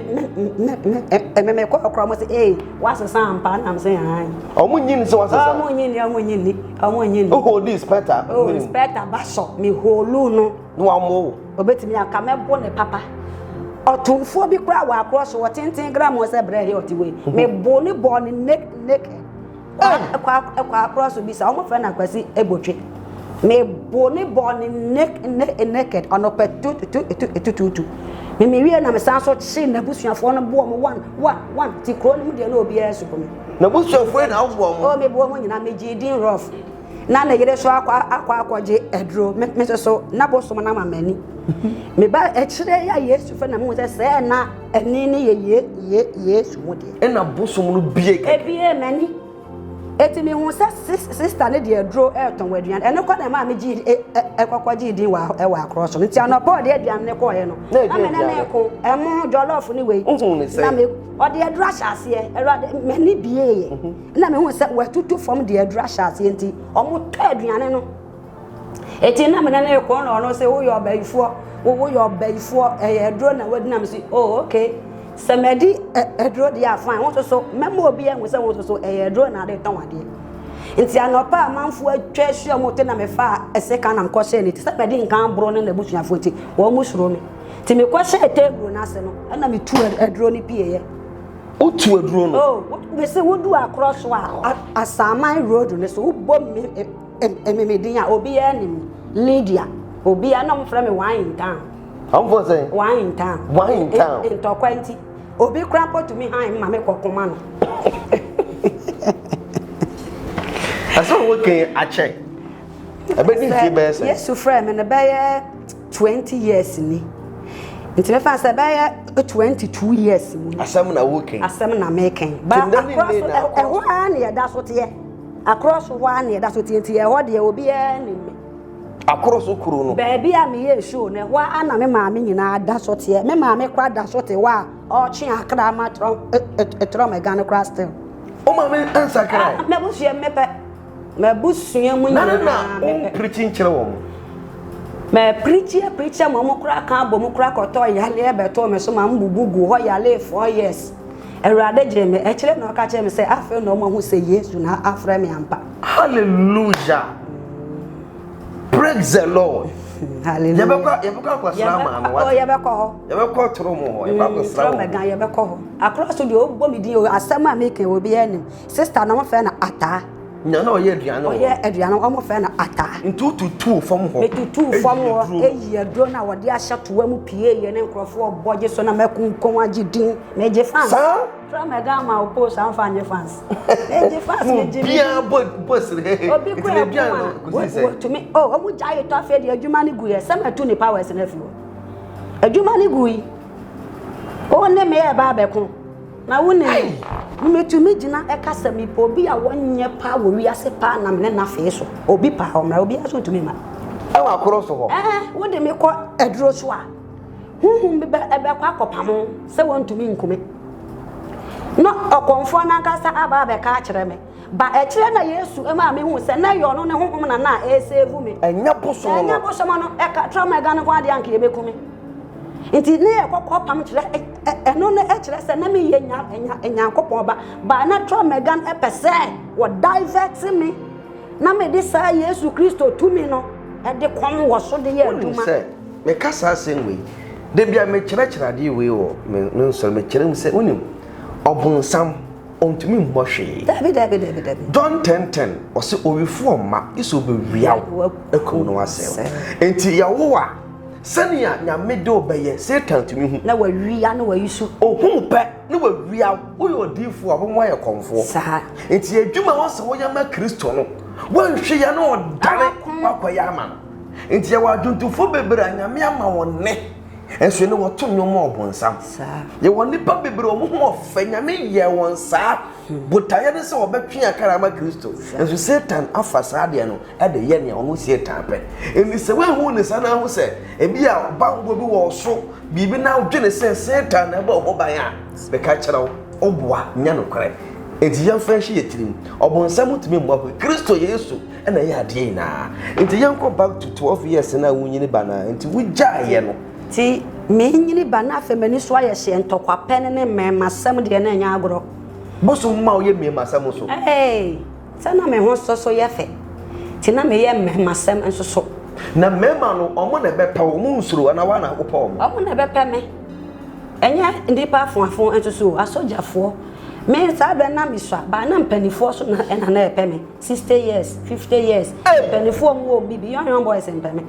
me me me kɔ akorɔ mo se ee wasesa ampa nam se han ɔmo nyi ni se wasesa ɔmo nyi ni ɔmo nyi ni ɔmo nyi ni oho di spɛta oh spɛta basɔ me holu no na wamo obetumi aka mɛbo ne papa ɔtomfoɔ bi kora wɔ akorɔ so ɔtenten gram ɔsɛ brɛ he ɔte wei mebo ne bɔɔ ne naked kwaakora so bi sa wɔn fɛ no akwasi ebotwe mebo ne bɔ ne ne naked ɔnɔpɛ tutututututu mimi wie na mesan so kye n'abusuafoɔ no boɔ mo wan wan wan ti kuro no mu deɛ na obiara so kɔ mu. n'abusuafoɔ na aboɔ mo. o mebo ho nyinaa megye din rough na ne yere so akɔ akɔ akɔgye aduro me so na bosom na ma m'ani meba akyire yɛ yesu fɛ na mo sɛ sɛɛ na. Ɛnne no yɛ ye ye yesu mu deɛ. Ɛna bosom no bie kɛkɛ. Ebie m'ani. Eti mi hu sɛ sista ne deɛ aduro ɛretɔn wɔ aduane ɛno kɔ na ɛmaa mi gye ɛkɔkɔ gye din wɔ ɛwɔ akorɔ so no nti anɔpɔ ɔde aduane ne kɔɔɛ no na mene ne ko ɛmo jɔlɔf ne wei na me ɔde aduro ahyɛ aseɛ ɛwurade m'ani bie yɛ ɛna mi hu sɛ wɔatutu fam de aduro ahyɛ aseɛ nti ɔmo tɔ aduane no. Eti na mene ne kɔn na ɔno se woyɛ ɔbayifoɔ wo woyɛ ɔbayifoɔ ɛyɛ aduro na wadi na mese oh okay sɛ madi aduro deɛ a fine wo nso so mɛma obi ahu sɛ wo nso so ɛyɛ aduro na ade tɔn adeɛ nti anɔpa a manfoɔ atwa ahyia mu te na mefa ɛsɛ ka na mekɔhyɛ ne ti sɛ mɛde nkan boro ne n'abusuafoɔ nti wɔn mu suro me nti mekɔhyɛ table no ase no ɛna metu aduro no pieeɛ wotu aduro no oh, mese wodu akorɔ so a asaaman road no so wobɔ me Ɛme me din a obiara nim. Lydia, obiara na wɔfrɛ me one in town. Wɔfrɛ sɛ? One in town. One in town. Ntɔkwa nti, obi kora mpo tumi han ma me kɔ koma no. Ɛsɛ sɛ wokan akyɛ. Ɛbɛdi mfie bɛyɛ sɛ? Yesu frɛ me no bɛyɛ twenty years ni. Nti mefa sɛ bɛyɛ twenty two years mu. Asɛm na wokan. Asɛm na mekan. Ba akora so ɛhɔ ara na yɛda so teɛ. Akorɔ so hɔ ara na ɛda so te nti ɛhɔ deɛ obiara nim me. Akorɔ so kuro no. Baabi a meyɛɛ show no ɛhɔ ara na me maame nyinaa da so teɛ. Me maame koraa da so te hɔ a ɔretwe akra ma trɔm ɛga no koraa still. Wo maame nsakrae? Ah, m'abusua mu mepɛ. M'abusua mu nyinaa mepɛ. Na na na wo pirikyi nkyerɛ wɔn? Mɛ pirikyi pirikyi ma wɔn koraa ka abɔ mu koraa kɔtɔ yaleɛ bɛtoo me so ma mbubu gu hɔ yaleɛ four years. Awurade gyee me. Akyire na ɔka kyerɛɛ me sɛ afei na wɔahu sɛ Yesu na afrɛ me ampa. Hallelujah. Praise the Lord. Hallelujah. Yɛbɛkɔ yɛbɛkɔ akɔsra maa no. Yɛbɛkɔ yɛbɛkɔ hɔ. Yɛbɛkɔ toro mu hɔ. Yɛbɛkɔ akɔsra wɔn. Toro mu yɛbɛkɔ hɔ. Akora so deɛ ɔbɔ mi din o asɛm a mi kɛ obi anim. Sista na wɔn fɛ na ataa. Nya na ɔyɛ aduane wɔ hɔ. Ɔyɛ aduane wɔn fɛ no ata. Nti wotutuu fam hɔ. Metutuu fam hɔ eyi aduro na wɔde ahyɛ toa mu pie yɛ ne nkurɔfoɔ bɔ gye so na mɛkunkun agye din megye fans. Saa. Tura mɛga ama wo post anfa nye fans. Megye fans megye din. Biara bɔ bɔ sere hehe. Obi kura ɛkuma. Biara na kusi sɛ. Wɔtumi o wɔn gya ayɛ tɔ afei de adwuma ne gu yɛ sɛ mɛtu ne powers na fi hɔ. Adwuma ne gu yi. Wɔn ne meyɛ ɛbaa bɛko. Na wo ne me. Metumi gyina ɛka sɛ mepɛ obi a wɔnyɛ paa wɔ wiase paa nam ne n'afee so. Obi paa ɔmmra, obi nso ntumi mma. Ɛwɔ akoro so hɔ. Ɛɛ, wo de me kɔ aduro so a, huhum bi bɛ ɛbɛkɔ akɔpamo sɛ wɔntumi nkume. Na ɔkɔmfoɔ n'ankasa aba abɛka akyerɛ me. Ba akyire na Yesu maa me hu sɛ na ɛyɛ ɔno ne honhom na na ɛresɛvu me. Ɛnyɛ bosom no. Ɛnyɛ bosom no. Ɛka tra ma ɛga no nko adeɛ anka yɛbɛku me. Nti ne yɛ kɔkɔ pam kyerɛ ɛno no ɛkyerɛ sɛ na me yɛ nya nya nyankopɔn ba. Ba na tra ma ɛga no ɛpɛ sɛ wɔ divert me na me de saa Yesu Kristo tumi no ɛde kɔm wɔ so de yɛ adwuma. Sɛ meka saa asɛm wei da bi a mekyerɛkyerɛ adeɛ wei wɔ me nsɔre mekyerɛ mu sɛ wonim ɔbonsam ɔntumi mmɔ hwee. Dabi dabi dabi dabi. John ten ten ɔsi owifoɔ mma gye sɛ ɔbɛwia wo akum no asɛe wo. Nti Yehowa sɛnea Nyame de ɔbɛyɛ Satan tumi hu. Na wawia na wayi so. Ohu pɛ na wawia wo. Woyɛ odiifoɔ a wɔn mu ayɛ kɔmfoɔ. Saa. Nti adwuma wɔ sɛ woyɛ ma Kristo no wɔnhwɛ yɛ na ɔdane wakɔyɛ ama no. Nti yɛwɔ adwontofoɔ bebree a Nyame ama wɔn nne. Nso ne wɔto nnwom ma ɔbonsam. Yɛwɔ nnipa bebree wɔn ho ɔfɛ nyame yɛɛ wɔn saa. Hmm. Botaeɛ ne sɛ wɔbɛtwe akara ama Kristo. Nso Satan afa saa deɛ no ɛde yɛ nea ɔno Satan pɛ. Ɛni sɛ woahu ne saa na ahu sɛ ebi a banbɔ bi wɔ so biribi na wodwene sɛ Satan na ɛbɔ ho ban a bɛka kyerɛ wo ɔboa nyɛ nokorɛ. Enti yɛmfa nhyɛ yɛ tirim. Ɔbonsam tumi mmɔ ho. Kristo Yesu na ɛyɛ adeɛ nyinaa nti yɛnkɔ back to twelve years na wonyini ba no nti wogyaeɛ no. Ti menyini ba na afei m'ani so ayɛ hyeɛ ntɔkwa pɛ ne ne mmɛɛmasɛm deɛ na ɛnyɛ agorɔ. Bosom ma woyɛ mmɛɛmasɛm nso. Ee, sɛ na me ho so so yɛ fɛ nti na meyɛ mmɛɛmasɛm nso so. Na mmɛɛma no ɔmo na ɛbɛpɛ wo, ɔmo nsuro anaa woa na wopɛ ɔmo? Ɔmo na ɛbɛpɛ me, ɛnyɛ nnipa afoafo nso so o, asogyafoɔ. Me saa berɛ no na mesua, but na mpaninfoɔ so na ɛna na ɛpɛ me. 60 years 50 years mpanimfoɔ mu wɔn bibi young young boys mpɛme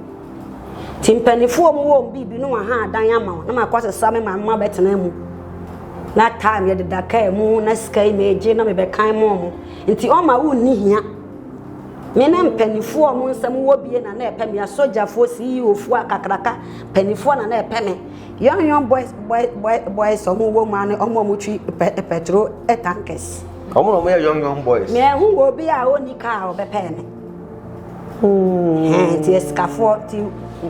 ti mpanimfoɔ mu wɔn bibi no aha adan ama wɔn na ma kɔ sesa me maame ma bɛtena mu na time yɛ deda kaa mu na sika yi meegye na mebɛkan mu wɔn nti ɔma wo nni hia me ne mpanimfoɔ mu nsɛm wɔ bie na na ɛpɛ me asogyafoɔ CEOfoɔ akakraka mpanimfoɔ na na ɛpɛ me young young boys boys boys boys ɔmo wɔ mu ano ɔmo ɔmo twi pɛ pɛtro tankers. Wɔn na wɔyɛ young young boys. Na ɛho wɔ obi a ɔnni kaa a ɔbɛpɛɛ me. Nti asikafoɔ ti.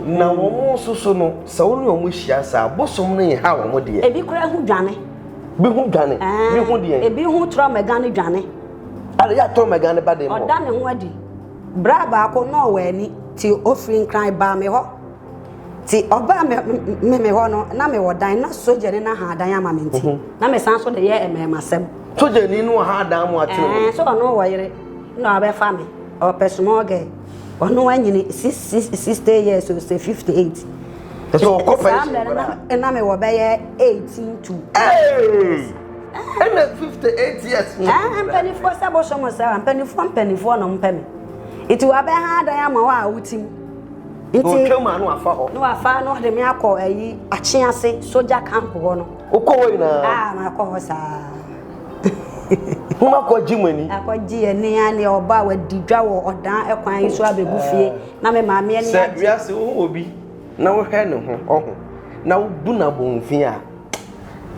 Na wɔn nso so no sɛ wɔn ne wɔn hyia saa bosom no yɛ ha wɔn deɛ. Ebi kura ho dwane. Bi ho dwane. Bi ho deɛ. Ebi ho tọrọ mɛga ne dwane. Ada yɛ atọrọ mɛga ne ba de mu. Ɔda ne ho adi. Bra baako na ɔwɔ ani ti ofiri nkran baa me hɔ. Ti ɔbaa me me me hɔ no na me wɔ dan na sogyani no aha dan ama me nti mhm. na me san so de yɛ mmɛɛmasɛm. Sogyani no aha dan mu atene. Ɛɛ eh, so ɔno wɔ yere na ɔbɛfa me ɔpɛ small girl ɔno anyini six six sixty years o sɛ fifty eight. Ɛsɛ ɔkɔ fɛnsi nkora. Ɛna me wɔ bɛyɛ eighteen to. Ɛɛ ɛna fifty eight years. Ɛɛ eh, mpanimfoɔ sɛ bɔ sɔmɔ sɛ mpanimfoɔ mpanimfoɔ na ɔmpɛ me. Eti wabɛha dan ama hɔ a wotim. na ɔtwa mu a na wafa hɔ. na wafa na ɔde me akɔ ayi akye ase soja camp hɔ no. wokɔ hɔ nyinaa. aa makɔ hɔ saa. mo ma kɔ gye mo ani. akɔ gye ani a ne ɔba a wadi dwa wɔ ɔdan ɛkwan yi so abɛgu fie na me maame ani agye. sɛ wiase wohu obi na wohwɛ ne ho ɔho na wobu no abɔnfin a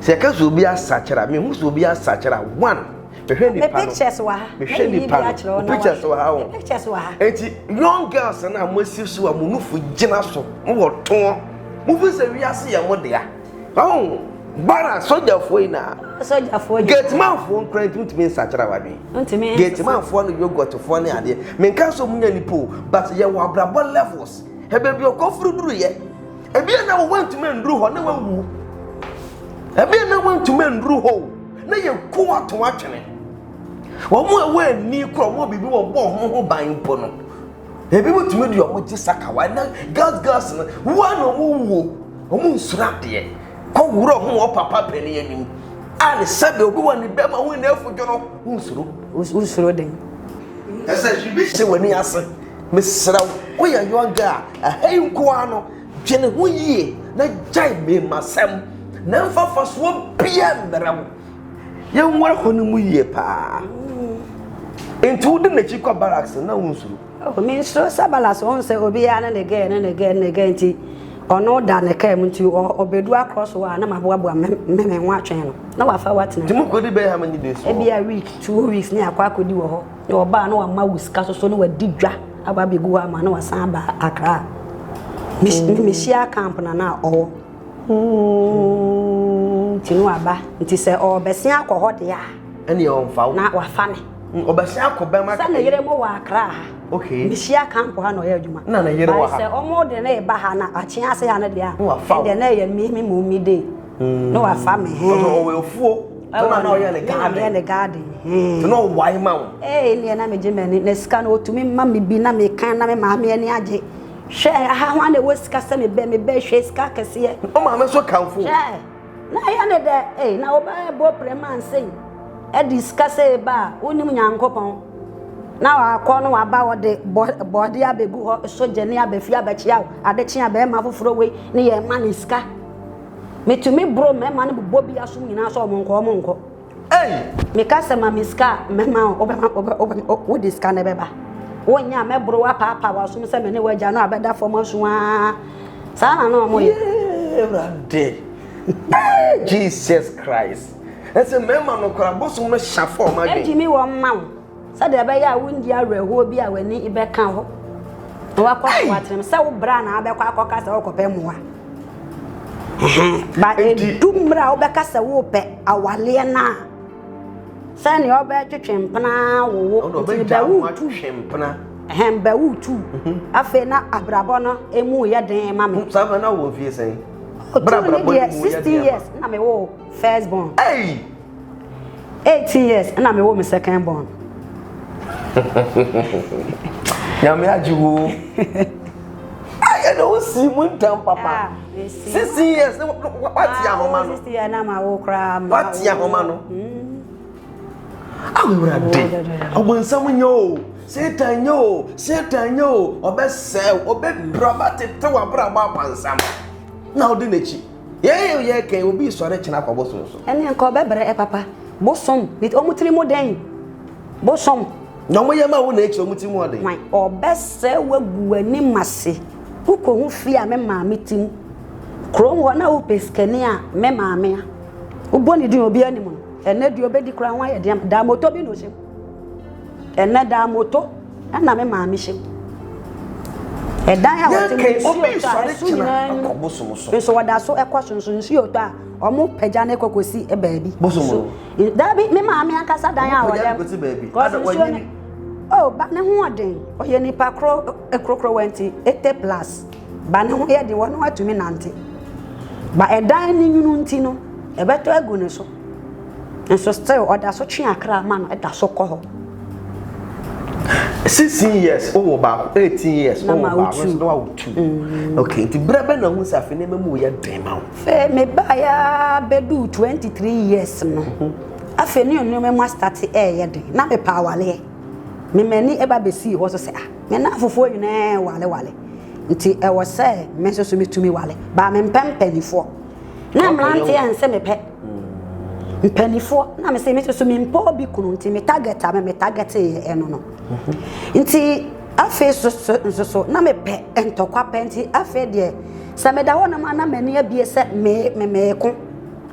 sɛ yɛka sɛ obi asakyera mehu sɛ obi asakyera one mehwɛ nipa no me pictures wɔ ha mehwɛ nipa no pictures wɔ ha wɔn pictures wɔ ha eti young girls na mo asi so a mo nufu gyina so mo wɔ tɔn mo fi sɛ wiase yɛ mo dea ɔn bara sogyafoɔ yi na sogyafoɔ yi gatemanfoɔ nkura nti ntumi nsakyera wadwen ntumi gatemanfoɔ no yogɔtfoɔ ne adeɛ menka so mu nya nipa o but yɛwɔ abrabɔ levels ɛbɛ bi ɔkɔforo duru yɛ ebi na wɔn ntumi nduru hɔ na wɔn wu ebi na wɔn ntumi nduru hɔ o. na yɛku wɔn ato atwene. Wɔn a ɛwɔ ani kora wɔn a biribi wɔn bɔ wɔn ho ban mpo no, ebi mo tumi de wɔn gye sakawa na gas gas no wɔn na wɔn wuo, wɔn nsoro adeɛ kɔ wura ho wɔn papa panin anim a ne sɛbe obi wɔn ne bɛma ho ne afodwo no wɔn nsoro. Wɔn nsoro den. Ɛsɛ biribi hyɛ wɔn ani ase. Mesrɛ wo, woyɛ yɔn gaa, ɛhɛn nkoa no. Dwene ho yie na gyae mmamusɛm, na mfa mfasoɔ biara mmrɛ wo. Yɛnware hɔ no mu yie paa. Enti wode n'akyi kɔ barracks no na wonsuro? Oh, mensuro sɛ barracks, wohu sɛ obiara ne ne girl ne ne girl ne ne girl nti ɔno da ne kaa mu nti ɔbɛdu across hɔ a na maboaboa mmɛmɛn ho atwɛn no na wafa hɔ atena. Nti mokɔdi bɛyɛ how many days wɔ hɔ? Ebia week, two weeks ne akɔ akɔdi wɔ hɔ. Ne ɔbaa na wama wo sika soso na wadi dwa aba abɛgu hɔ ama na wasan aba akra a mm. mehyia camp na na ɔwɔ mm. nti no aba nti sɛ ɔbɛsen akɔ hɔ deɛ a ɛne ɔmfa wo na wafa me mm, ɔbɛsen akɔ bɛma sɛ ne yere mo wɔ akra ha okay mehyia camp ha na ɔyɛ adwuma na ne yere wɔ ha sɛ ɔmo de ne ba ha na akye ase ha no deɛ a ɛdeɛ na ɛyɛ me me mu me dee Mm. No afa me he. Ɔsɛ ɔwɔ afuo. Ɛna na ɔyɛ ne garden. Ɛna ɔyɛ ne garden he. Ɛna ɔwae ma wo. Ee neɛ na megye m'ani na sika no ɔtumi ma me bi na mekan na me maame ani agye. Hwɛ aha ho ana ɛwɔ sika sɛ mebɛ mebɛ hwɛ sika kɛseɛ. Ɔ maame nso kamfo. Hwɛ na ɛyɛ ne dɛ ee na ɔbɛyɛ bɔ pere ma nsɛn. Ɛde sika sɛ eba a wonim nyankopɔn. Na wakɔ no waba ɔde bɔɔde abɛgu hɔ so gyane abɛfi abɛkyea wo. Ade kyea bɛrima foforɔ wei ne yɛ ma ne sika. Metumi boro mmarima no bobɔ bi asom nyinaa sɛ wɔnkɔ wɔnkɔ. Ei! Meka sɛ ma me sika a mɛma wo, wode sika no bɛba. Wonyɛ a mɛboro wapaapae w'asom sɛ me ne w'agya no a bɛda fam aso aa. Saa na na wɔyɛ. Awurade! Jesus Christ! Ɛsɛ mmarima no koraa bosom no hyɛ fam adwene. Ɛgyimi wɔn ma wo. sɛdeɛ ɛbɛyɛ a wondi awerɛhoɔ bi a w'ani bɛka hɔ na wakɔ so atenam sɛ wo bra na abɛkɔ akɔka sɛ wokɔpɛ mmoa ba ɛdu mmerɛ a wobɛka sɛ wopɛ awaleɛ no a sɛnea ɔbɛtwetwe mpena wowo nti bɛwotu hɛn bɛwotu mhm. afei na abrabɔ no ɛmu yɛ den ma me mhm, saa na wɔ mfie sɛn ɔtu ne deɛ 16 years na mewɔ first born hey! 18 years na mewɔ me second born nyame agye wo ɛna wosi mu ntam papa ah, sisi years ne wate ah, ahoma no wate ahoma no awurade ɔbonsam nyɛ o satan nyɛ o satan nyɛ o ɔbɛsɛe ɔbɛpira ɔbɛtete w'abrabɔ apansam na wode n'akyi Yɛyɛ yɛ kɛn obi sɔre kyena kɔ bosom so. Ɛne nka ɔbɛbrɛ papa. Bosom bi ɔmo tiri mu dɛn? Bosom. Na ɔmo yɛ ma wo na ekyi ɔmo tiri mu ɔden. Wan ɔbɛsɛ wagu w'anim ase. Wokɔ ho fie a me maame ti mu. Kurom hɔ na wopɛ sikani a me maame a. Wobɔ ne din obiara nim no. Ɛnɛ deɛ ɔbɛdi koraa ho ayɛ den ama. Daa moto bi na ɔhyɛ mu. Ɛnɛ da moto na me maame hyɛ mu. Ɛdan a wɔte mu nsuo tɔ a ɛso nyinaa anim nso wɔda so kɔ so nso nsuo tɔ a wɔn pagya ne kɔ kɔsi baabi. So daabi me maame ankasa dan a wɔda mu kɔsi nsuo ne oh ba ne ho ɔden ɔyɛ nipa koro kurokuro wɛnti eighty plus ba ne ho yɛ de wɔn atumi nante ba ɛdan ne nwunu nti no ɛbɛtɔ agu ne so. nso still ɔda so twe akra ma no ɛda so kɔ hɔ. sixteen years o wɔ baako eighteen years o wɔ baako nso na wa wɔ two mm. okay nti bere bɛ na ho sɛ afei nneɛma mu yɛ den ma wo. fɛ me ba ya bɛdu twenty three years no mhm. afei ne nneɛma mu asitati ɛɛyɛ den na me pa awaleɛ me mɛni ɛba bɛsi hɔ so sɛ ah me na afofoɔ nyinaa wale wale nti ɛwɔ sɛ me nso so me tumi wale baa me mpɛ mpanyinfoɔ. na mmeranteɛ anse me pɛ mpanimfoɔ na me sɛ me soso me mpɛ obi kunu nti me target a me me target yɛ ɛno no nti afei soso nsoso na me pɛ ntɔkwa pɛ nti afei deɛ sɛ meda hɔ nom ana m'ani abie sɛ me me meeko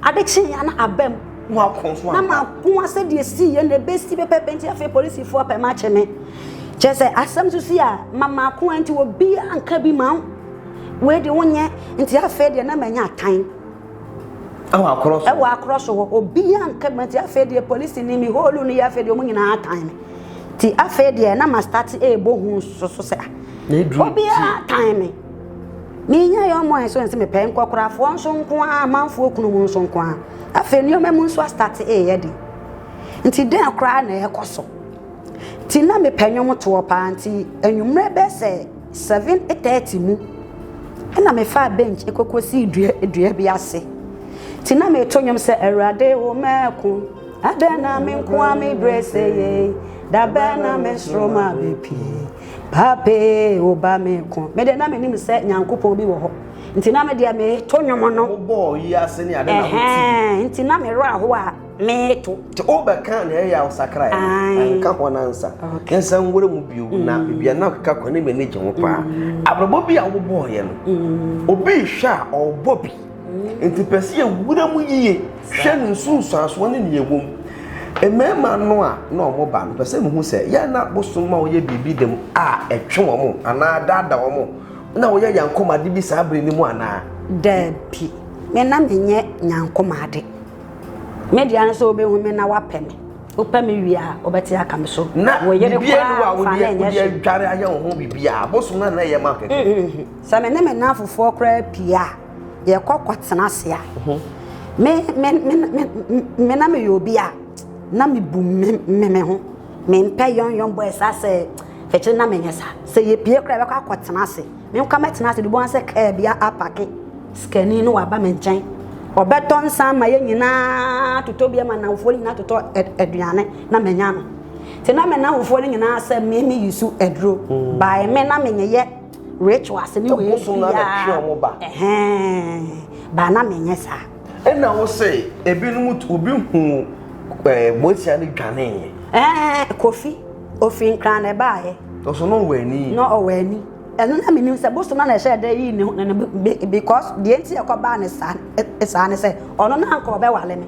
ade kye ya na abam na mako asɛ deɛ si yɛ na ebesi pɛpɛpɛ nti afei polisifoɔ pɛ ma kye me kyɛ sɛ asɛm soso a ma mako nti obi anka bi ma wo. Wei de wonyɛ nti afei deɛ na manya atan. Ɛwɔ akorɔ so. Ɛwɔ akorɔ so hɔ obiara nka ma nti afei deɛ polisi ni mi hɔɔlu ni yɛ afei deɛ wɔn nyinaa atan mi ti afei deɛ na ma start ɛɛbɔ hu soso sɛ ah, obiara atan mi. Menya yɛ ɔmo ɛnso nse mepɛ nkɔkorafoɔ nso nko ara amanfoɔ kunu mu nso nko ara afei nneɛma mu nso astate ɛɛyɛ de nti dɛn koraa na ɛkɔ so ti na mepɛ nnwom toɔ paa nti anwummerɛ bɛsɛ Seven thirty mu na mefaa bench kɔkɔsii dua dua bi ase nti na meto nnwom sɛ awurade wo mɛko adɛn na me nko a me brɛ sɛ ye dabɛn na me soro ma bɛpie pape wo ba me ko mede na menim sɛ nyankopɔn bi wɔ hɔ nti na medeɛ meto nnwom no nti na merɛ ahoɔ a meeto. Ntsi wobɛkã nea ɔyɛ a ɔsakrae no, annka hɔn ansa yɛnsan nwura mu bio, na beebi a nna ɔkeka kɔ no, nna m'enyi gye ho paa. Abrabɔ bi a wɔbɔɔyɛ no, obi rehwɛ a, ɔrobɔ bi. Ntsi pɛ sɛ yewura mu yie hwɛ no nsunsuansoɔ ne nea ɛwɔ mu. Mmarima no a na wɔba no, pɛ sɛ mehu sɛ yɛ na bosom ma wɔyɛ biribi dɛm a ɛtwe wɔn anaa ɛdaadaa wɔn, na wɔyɛ yankomade bi saa bere no mu anaa? Dabi, me na menyɛ nyankomade. Me deɛ no sɛ wobɛhu me na wapɛ me. Wopɛ me wie a, wobɛte aka me so. Na biribiara a wode adware ayɛ wo ho biribiara, abosom na na ɛyɛ ma kɛkɛ. Mm, mm, mm. Sɛ me ne me nnamfofoɔ koraa pie a, yɛkɔ kɔtena ase a, mhm. me me me me na meyɛ obi a na mebu me me ho. Mempɛ yɔnyɔn boy saa sɛ fɛkyɛ na menyɛ saa. Sɛ yɛpie koraa yɛbɛkɔ akɔtena ase. Menkɔ mɛtena ase dodoɔ sɛ kaa bi apake. Sikani no waba me nkyɛn. Ɔbɛtɔ nsa ama yɛn nyinaa totɔ bi ama nnamfoɔ no nyinaa totɔ aduane na manya no. Nti na me nnamfoɔ no nyinaa sɛ me me yusu aduro. Mm. By me na menyeyɛ rituals ne wei biara. Ɛhɛn. Ba na menyɛ saa. Ɛna wo se ebinom obi hu eh, bosia ne dwaneeɛ. Ɛɛ Kofi. Ofi nkran na ɛbaeɛ. Ɔso na ɔwɔ ani. Na ɔwɔ ani. Ɛno na menim sɛ bosom na na ɛhyɛ dɛ yi ne ne ne because deɛ nti ɛkɔ baa ne saa e, saa ne sɛ ɔno na anka ɔbɛwale me.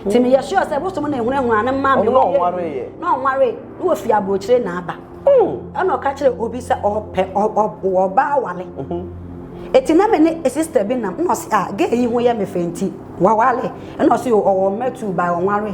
Ti meyɛ sure sɛ bosom na ehunahuna ne mma me. Ɔno ɔnware. Na ɔnware. Na wɔfi aburokyire na aba. Ɛna ɔka kyerɛ obi sɛ ɔpɛ ɔwɔ ɔbaa awale. Eti na me ne sister bi nam na ɔsi a gay yi ho yɛ me fɛ nti wawale. Ɛna ɔsi ɔwɔ mma two by ɔnware.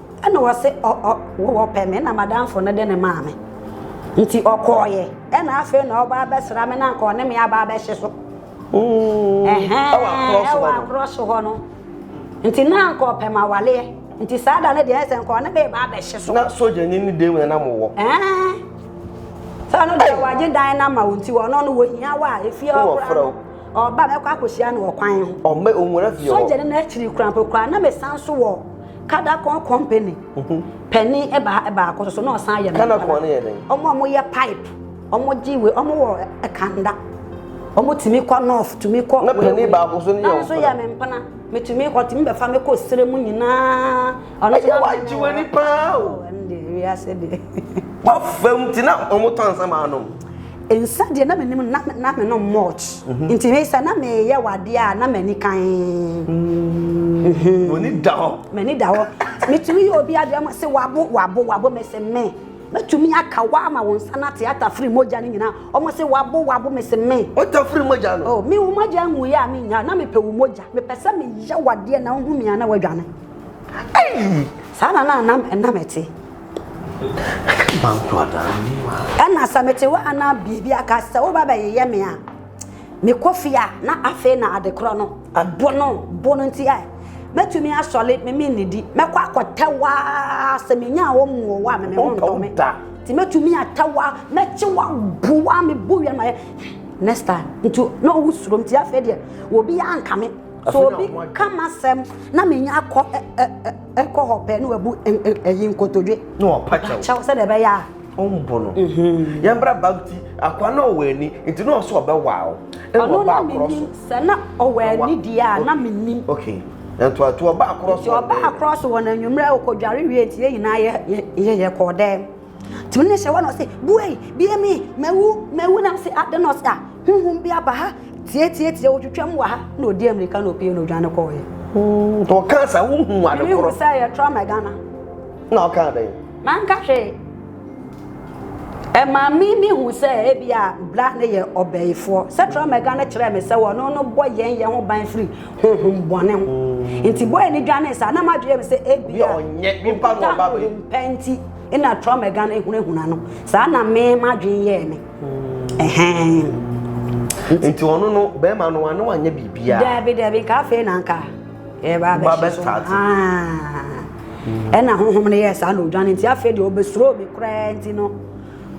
Ɛna ɔse ɔ ɔ wo wɔpɛ me na madamfo no de no maa me nti ɔkɔɔeɛ ɛna afei na ɔba abɛsra me na anka ɔne me aba abɛhye so ɛhɛn ɛwɔ akorɔ so hɔ no nti na anka ɔpɛ ma waleɛ nti saa da no deɛ ɛsɛ nka ɔne me ba abɛhye so. Na sogya ni ne dan mu na nam wɔ. Ɛɛn sɛ ɔno deɛ wagye dan no ama wo nti ɔno no wɔhia wo a efie hɔ kora no ɔba mɛkɔ akɔhyia no wɔ kwan ho. Ɔmɛ ɔnwura fie hɔ. Sogya ni no akyiri kora mpo kora na mesan so wɔ. Kadakon company panin baako soso na ɔsan yɛ Kadakon no yɛ dɛn? Ɔmo a wɔyɛ pipe, ɔmo gye wei, ɔmo wɔ kanda. Ɔmo tumi kɔ north, tumi kɔ. Na panin baako so no yɛ ɔmpena. Na nso yɛ me mpena. Metumi kɔ, tumi bɛfa me kɔ sere mu nyinaa. Ɛyɛ wagye w'ani paa o. Ɛnde wiase deɛ. Wafam ti na ɔmo tɔ ansa ma anom. Nsa deɛ na menim na na menom much mm-hmm. nti hwɛ sɛ na meyɛ wadeɛ a na m'ani kan mm-hmm. m'ani da hɔ m'ani da hɔ metumi yɛ obi adeɛ ma sɛ wabo wabo wabo mese me mɛtumi aka wa ama wo nsa no ate atafiri mogya no nyinaa ɔmo se wabo wabo mese me wotafiri mogya no oh, me wo mogya nhu yɛ a menya na mepɛ wo mogya mepɛ sɛ meyɛ wadeɛ na wohu mia na wadwane saa na na nam ɛnam ɛte Ɛna sɛ mete hɔ a na biribi aka sɛ woba bɛyeyɛ me a mekɔ fie a na afei na adekorɔ no ɛbo no bo no nti a mɛtumi asɔre meme nnidi mɛkɔ akɔtɛ hɔ a sɛ menya a wɔmmu wɔ hɔ a meme ho ntɔ me nti mɛtumi atɛ hɔ a mɛkye wa bo wa mebo wia ma yɛ next time nti na ɔwo suro nti afei deɛ obi anka me so obi ka m'asɛm na menya akɔ ɛkɔ hɔ pɛ na wabu ɛyi nkotodwe na ɔpa kyɛw sɛdeɛ ɛbɛyɛ a ɔmbo no mhm. yɛmbra bag ti akoa na ɔwɔ ani nti na ɔsɛ ɔbɛwaaw ɛwɔ ba akorɔ so sɛ na ɔwɔ ani deɛ a na menim okay ntoato ɔba akorɔ so nti ɔba akorɔ so wɔ n'anwummerɛ ɔkɔdware wie nti yɛ nyinaa yɛ yɛ yɛ kɔɔ dɛm Tumi no hyɛ hɔ na ɔse buei bie mi mawu mawu na ɔse adɛn na ɔse a huhum bi aba ha tietiatia ɔtwitwam wɔ ha na ɔdi amirika na ɔpie na ɔdwane kɔɔyɛ hmm, nti ɔka sa wohu ade korɔ mehu sɛ yɛ trauma Ghana na ɔka adɛn manka hwee ɛma me mehu sɛ ebi a bra ne yɛ ɔbɛyifoɔ sɛ trauma Ghana kyerɛ me sɛ wɔno no bɔ yɛn yɛn ho ban firi honhom bɔne ho hmm. nti bɔɛ ne dwane saa na madwene me sɛ ebi a ɔnyɛ nipa na ɔba bɛyi mpɛ nti Nna Tom Egan ehunahuna no. Saa na me m'adwen yɛɛ me. Ɛhɛn. Nti ɔno no bɛrima no ano anyɛ biribiara. Daabi daabi nka afei na nka yɛba abɛhyɛ so. Ɛna honhom no yɛɛ saa na odwane nti afei deɛ ɔbɛsuro mi koraa nti no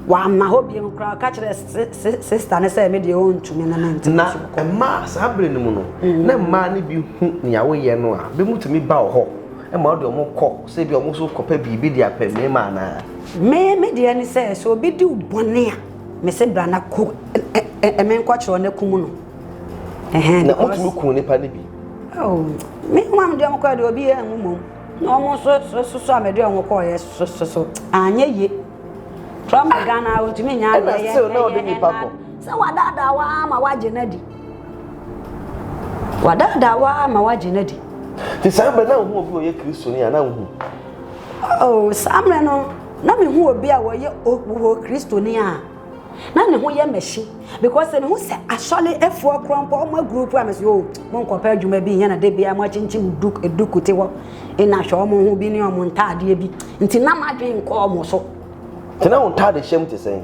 wamma hɔ biom koraa ɔka kyerɛ sista no sɛ me deɛ ɔntumi no ne nti na mmaa saa bere no mu no mm. na mmaa no bi hu nea woyɛ no a bɛmutumi ba wɔ hɔ ma ɔde ɔmo kɔ Sɛ ebia wɔn nso kɔpɛ biribi de apɛ mmarima anaa? Me, me deɛ ne sɛ, sɛ obi di wo bɔne a, mese bra na ko menkɔkyerɛ na kum no. Ɛhɛn, na motumi kun nipa no bi? Oh, me mu a mede wɔn kɔɛ deɛ obi yɛ anwu mmom. Na wɔn nso soso a mede wɔn kɔɔyɛ soso anyɛ yie. From Ghana, ɔntumi nyɛ adeɛ yɛ ɛyɛ ɛna sɛ ɔde nipa kɔ. Sɛ wadaadaa wo ara ma wagye no adi. Wadaadaa wo ara ma woagye no adi. Nti saa mmerɛ na wohu obi a ɔyɛ Kristoni a na wohu? Oh, saa mmerɛ no na mehu obi a ɔyɛ ɔwɔ Kristoni a na ne ho yɛ mɛhye because sɛ mehu sɛ asɔre efoɔ korɔ mpo ɔmo agroup a mɛsɛ oh mo nkɔpɛ adwuma bi nyɛ na da biara mo akyinkyim duk eduku te hɔ ɛna hwɛ ɔmo ho bi ne ɔmo ntaadeɛ bi nti na m'adwene nkɔ ɔmo so. Nti na wo ntaade hyɛm te sɛn?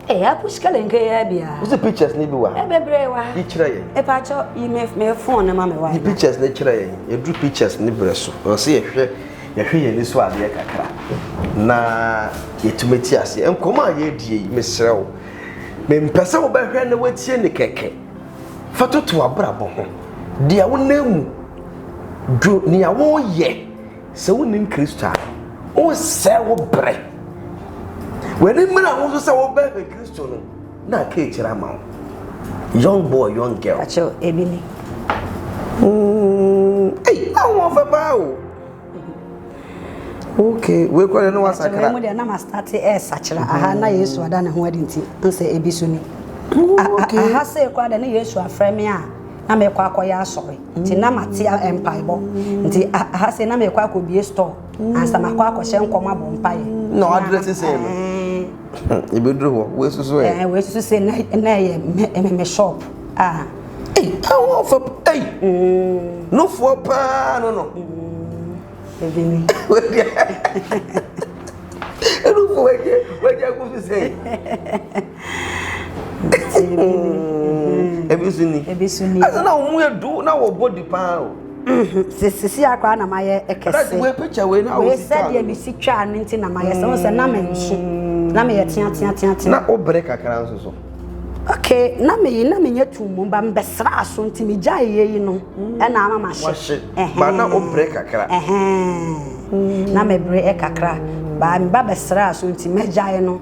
Ee, apo sika le nkeya bia. Wo si pictures ni bi wa ha? Ɛbɛbrɛ wa. Yi kyerɛ yɛn. Epa kyɛ yi me me phone na ma me wa. Yi pictures ni kyerɛ yɛn. Yɛduru pictures ni brɛ so. Ɛwɔ sɛ yɛhwɛ yɛhwɛ yɛn ani so adeɛ kakra na yɛtumi te aseɛ. Nkɔmɔ a yɛredie yi, mesrɛ wo, mempɛ sɛ wobɛhwɛ na watie ne kɛkɛ. Fa toto abrabɔ ho. Deɛ wonam mu, dwo nea woyɛ. Sɛ wonnim Kristo a, wosɛe wo berɛ. W'ani mmere ho nso sɛ wobɛhwɛ Kristo no na aka akyire ama wo. Young boy, young girl. Akyɛw ebi ni. Mm, ei, na wɔn fɛ paa o. Okay, wei kura ne no wasakra. Akyɛw mu deɛ na ma start ɛresakra. Eh, Aha na Yesu ada ne ho adi nti, nsɛ ebi so ni. Aha sɛ ekura de ne Yesu afrɛ me a. na mekɔ akɔyɛ asɔre nti na mate mpaebɔ nti aha sei na mekɔ akɔbie store ansa makɔ akɔhyɛ nkɔm abɔ mpaeɛ na ɔadrɛ te sɛ no yɛbɛduru hɔ wei susu ɛ wei susu sɛ na ɛyɛ me shop a ɛwɔ fa ei nofoɔ paa no no ɛbini ɛnofoɔ wagya kofisɛ Ebi so ni. Ebi so ni. Ɛsɛ na wɔn yɛ du na wɔ bɔ di paa o. Sisi akora na ma yɛ ɛkɛse. Ɛdasi wei picture wei na wɔsi twa. Wei sɛdeɛ mi si twa ne nti na ma yɛ sɛ wɔn sɛ na ma nsu na ma yɛ tia tia tia tia. Na o bere kakra nso so. Okay, na me yi na me nyɛ tum mu ba me bɛsra aso nti me gya yɛ yi no ɛna ama ma hyɛ. Ba na o bere kakra. Na me bere kakra. Ba me ba bɛsra aso nti me gya yɛ no.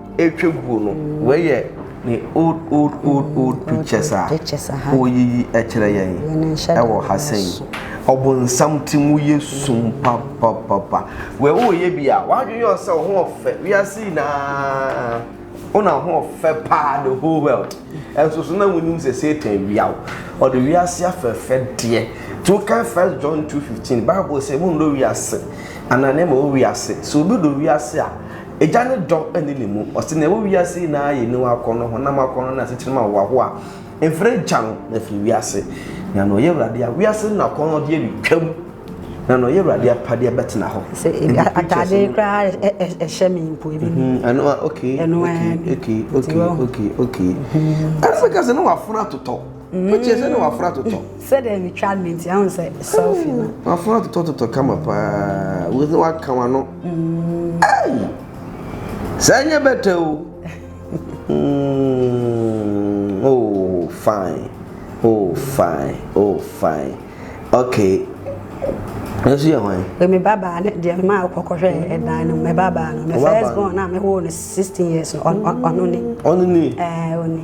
Ɛretwa guo no wei yɛ ne old old old old pictures a ɔreyiyi kyerɛ yɛn ɛwɔ ha sɛn ɔbonsam ti mu yɛ sum papapapa wei woyɛ bi a wadwene yɛ ɔsɛ ɔho ɔfɛ wiase nyinaa ɔna ɔho ɔfɛ paa the whole world ɛnso so na wonim sɛ satan wia wo ɔde wiase afɛfɛ deɛ tí wokan first john 2:15 bible sɛ mu ndɔ wiase anaa ne ma wo wiase sɛ obi dɔ wiase a Agya no dɔ nni ne mu. Ɔse nea ɛwɔ wiase nyinaa yɛ aniwa akɔnnɔ, honam akɔnnɔ, ne asetena mu ahoahoa. Mfrɛ Agya no na firi wiase. Na nea ɔyɛ Awurade a, wiase no akɔnnɔdeɛ retwam, na nea ɔyɛ Awurade apadeɛ bɛtena hɔ. Sɛ atadeɛ koraa ɛhyɛ me mpo ebi mu. Mm-hmm. Ɛno a okay. Ɛno a okay okay okay okay. Ɛsɛ kɛse na wafuna totɔ. Wotie sɛ na waforo atotɔ. Sɛdeɛ metwa no nti ahun sɛ selfie no. Waforo atotɔ totɔ kama paa wo sɛ waka wano. Hey! Saa nyɛ bɛtɛ o. Mm, oh fine, oh fine, oh fine. Okay. Nso yɛ hwan? Me babaa ne deɛ me maa kɔkɔhwɛ ɛdan no me babaa no. Me first born na me wɔ no 16 years no ɔno ni. Ɔno ni? Ɛɛ ɔno.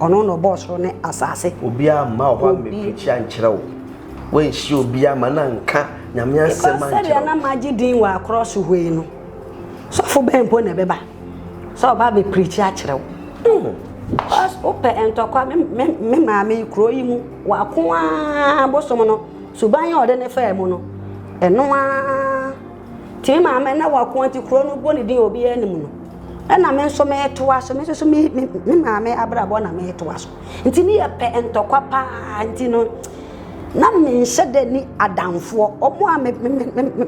Ɔno na ɔbɔɔ soro ne asase. Obiara mma ɔhɔ ammɛpirikyi ankyerɛ wo, woanhyia obiara ma no anka Nyame asɛm ankyerɛ wo. Because sɛdeɛ na magye din wɔ akorɔ so hɔ yi no, sɔfo bɛn mpo na ɛbɛba sɛ ɔba abɛpirikyi akyerɛ wo? Because wopɛ ntɔkwa, me maame yi, kuro yi mu, wako ara bosom no, suban a ɔde ne faa mu no, ɛno ara. Tee maame na wako nti kuro no bɔ ne din obiara anim no ɛna me nso metoa so me nso me me maame abrabɔ na metoa so nti ne yɛ pɛ ntɔkwa paa nti no na menhyɛ dɛ ni adamfoɔ ɔmo a me me me me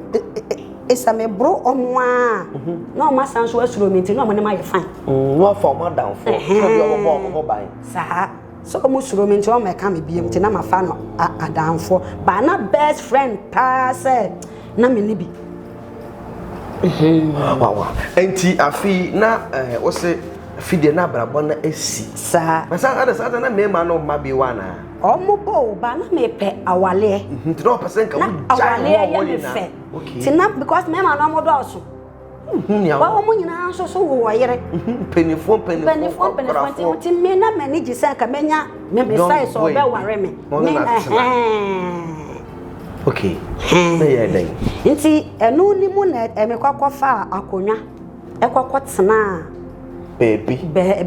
ɛsɛ me boro ɔmo a mhm. na ɔmo asan so asuro mi nti na ɔmo ne ma yɛ fan. Mm, na ɔfa ɔmo adamfoɔ sɛ bi ɔmo bɔ ɔmo ho ban. saa. Sɛ ɔmo suro me nti ɔmo mɛka me biom nti na mafa no adamfoɔ baa na best friend paa sɛ na me ne bi. Nti afi na eh, wo se afi deɛ na abrabɔ na esi. Saa. Na saa ada saa na mmarima no mma bi wa na. Ɔmo bɔ o ba na mepɛ awaleɛ. Nti na ɔpɛ sɛ nka wo gya ne ho ɔmo nyinaa. Na awaleɛ yɛ me fɛ. Nti na because mmarima no ɔmo dɔɔso. wohu nea wɔn wɔn nyinaa nso so wo wɔ yere mpanimfoɔ mpanimfoɔ mpanimfoɔ nti nti me na m'ani gye sɛ nka mɛnya mebisae sɛ ɔbɛware me me ɛhɛn okay na yɛ dɛn nti ɛno ne mu na ɛmekɔkɔ fa akonnwa ɛkɔkɔ tenaa baabi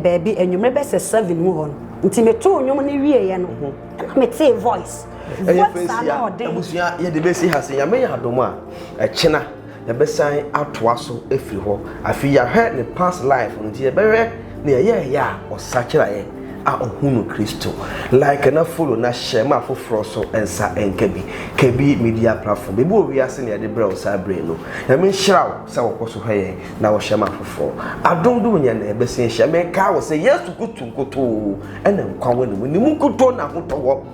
baabi anwummerɛ bɛ sɛ seven mu hɔ no nti metoo nnwom no wieeɛ no mhm. ɛna metee voice voice a na ɔden abusua yɛde bɛsi ha sɛ nyame yɛ adom a ɛkyena Yɛbɛsan atoa so afiri hɔ. Afei yɛahwɛ ne past life no nti yɛbɛhwɛ nea ɛyɛɛyɛ a ɔsakyeraɛ a ɔhunu Kristo. Like na follow na share ma afoforɔ so nsa nka bi. Kabi media platform baabi wɔ wiase na yɛde brɛ wo saa bere no. Nyame nhyira wo sɛ wokɔ so hwɛ yɛn na wo share ma afoforɔ. Adom de wo nyɛ na yɛbɛsan ahyia. Mekae wo sɛ Yesu Kristo nkotoo na nkwa wɔ ne mu. Ne mu nkutoo na ahotɔ wɔ.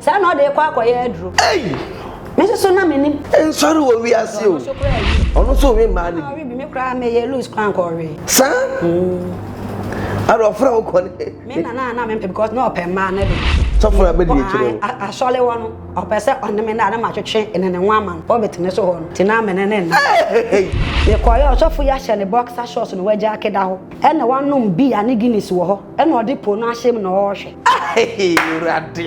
Saa na ɔde rekɔ akɔyɛ aduru. Ei! Me nso so na menim. Nsɔre wɔ wiase o. Ɔno so koraa wi. Ɔno nso ɔwe mmaa no bi. Ɔwe bi me koraa meyɛ loose koraa nka ɔwe. Saa? Mm. Ara ɔfra wo kɔ ne. Me na na na me mpɛ because na ɔpɛ mmaa no de. Sɔfo na bɛdi akyire o. Asɔre wɔ no ɔpɛ sɛ ɔne me na ne ma twetwe ne ne ho ama no pulpit ne so hɔ no ti na me ne ne nna. Mekɔyɛ ɔsɔfo yi ahyɛ ne boxer shorts na wagya akeda hɔ ɛna wanom beer ne Guinness wɔ hɔ. Ɛna ɔde po no ahyɛ mu na ɔrehwɛ. Ahee Awurade.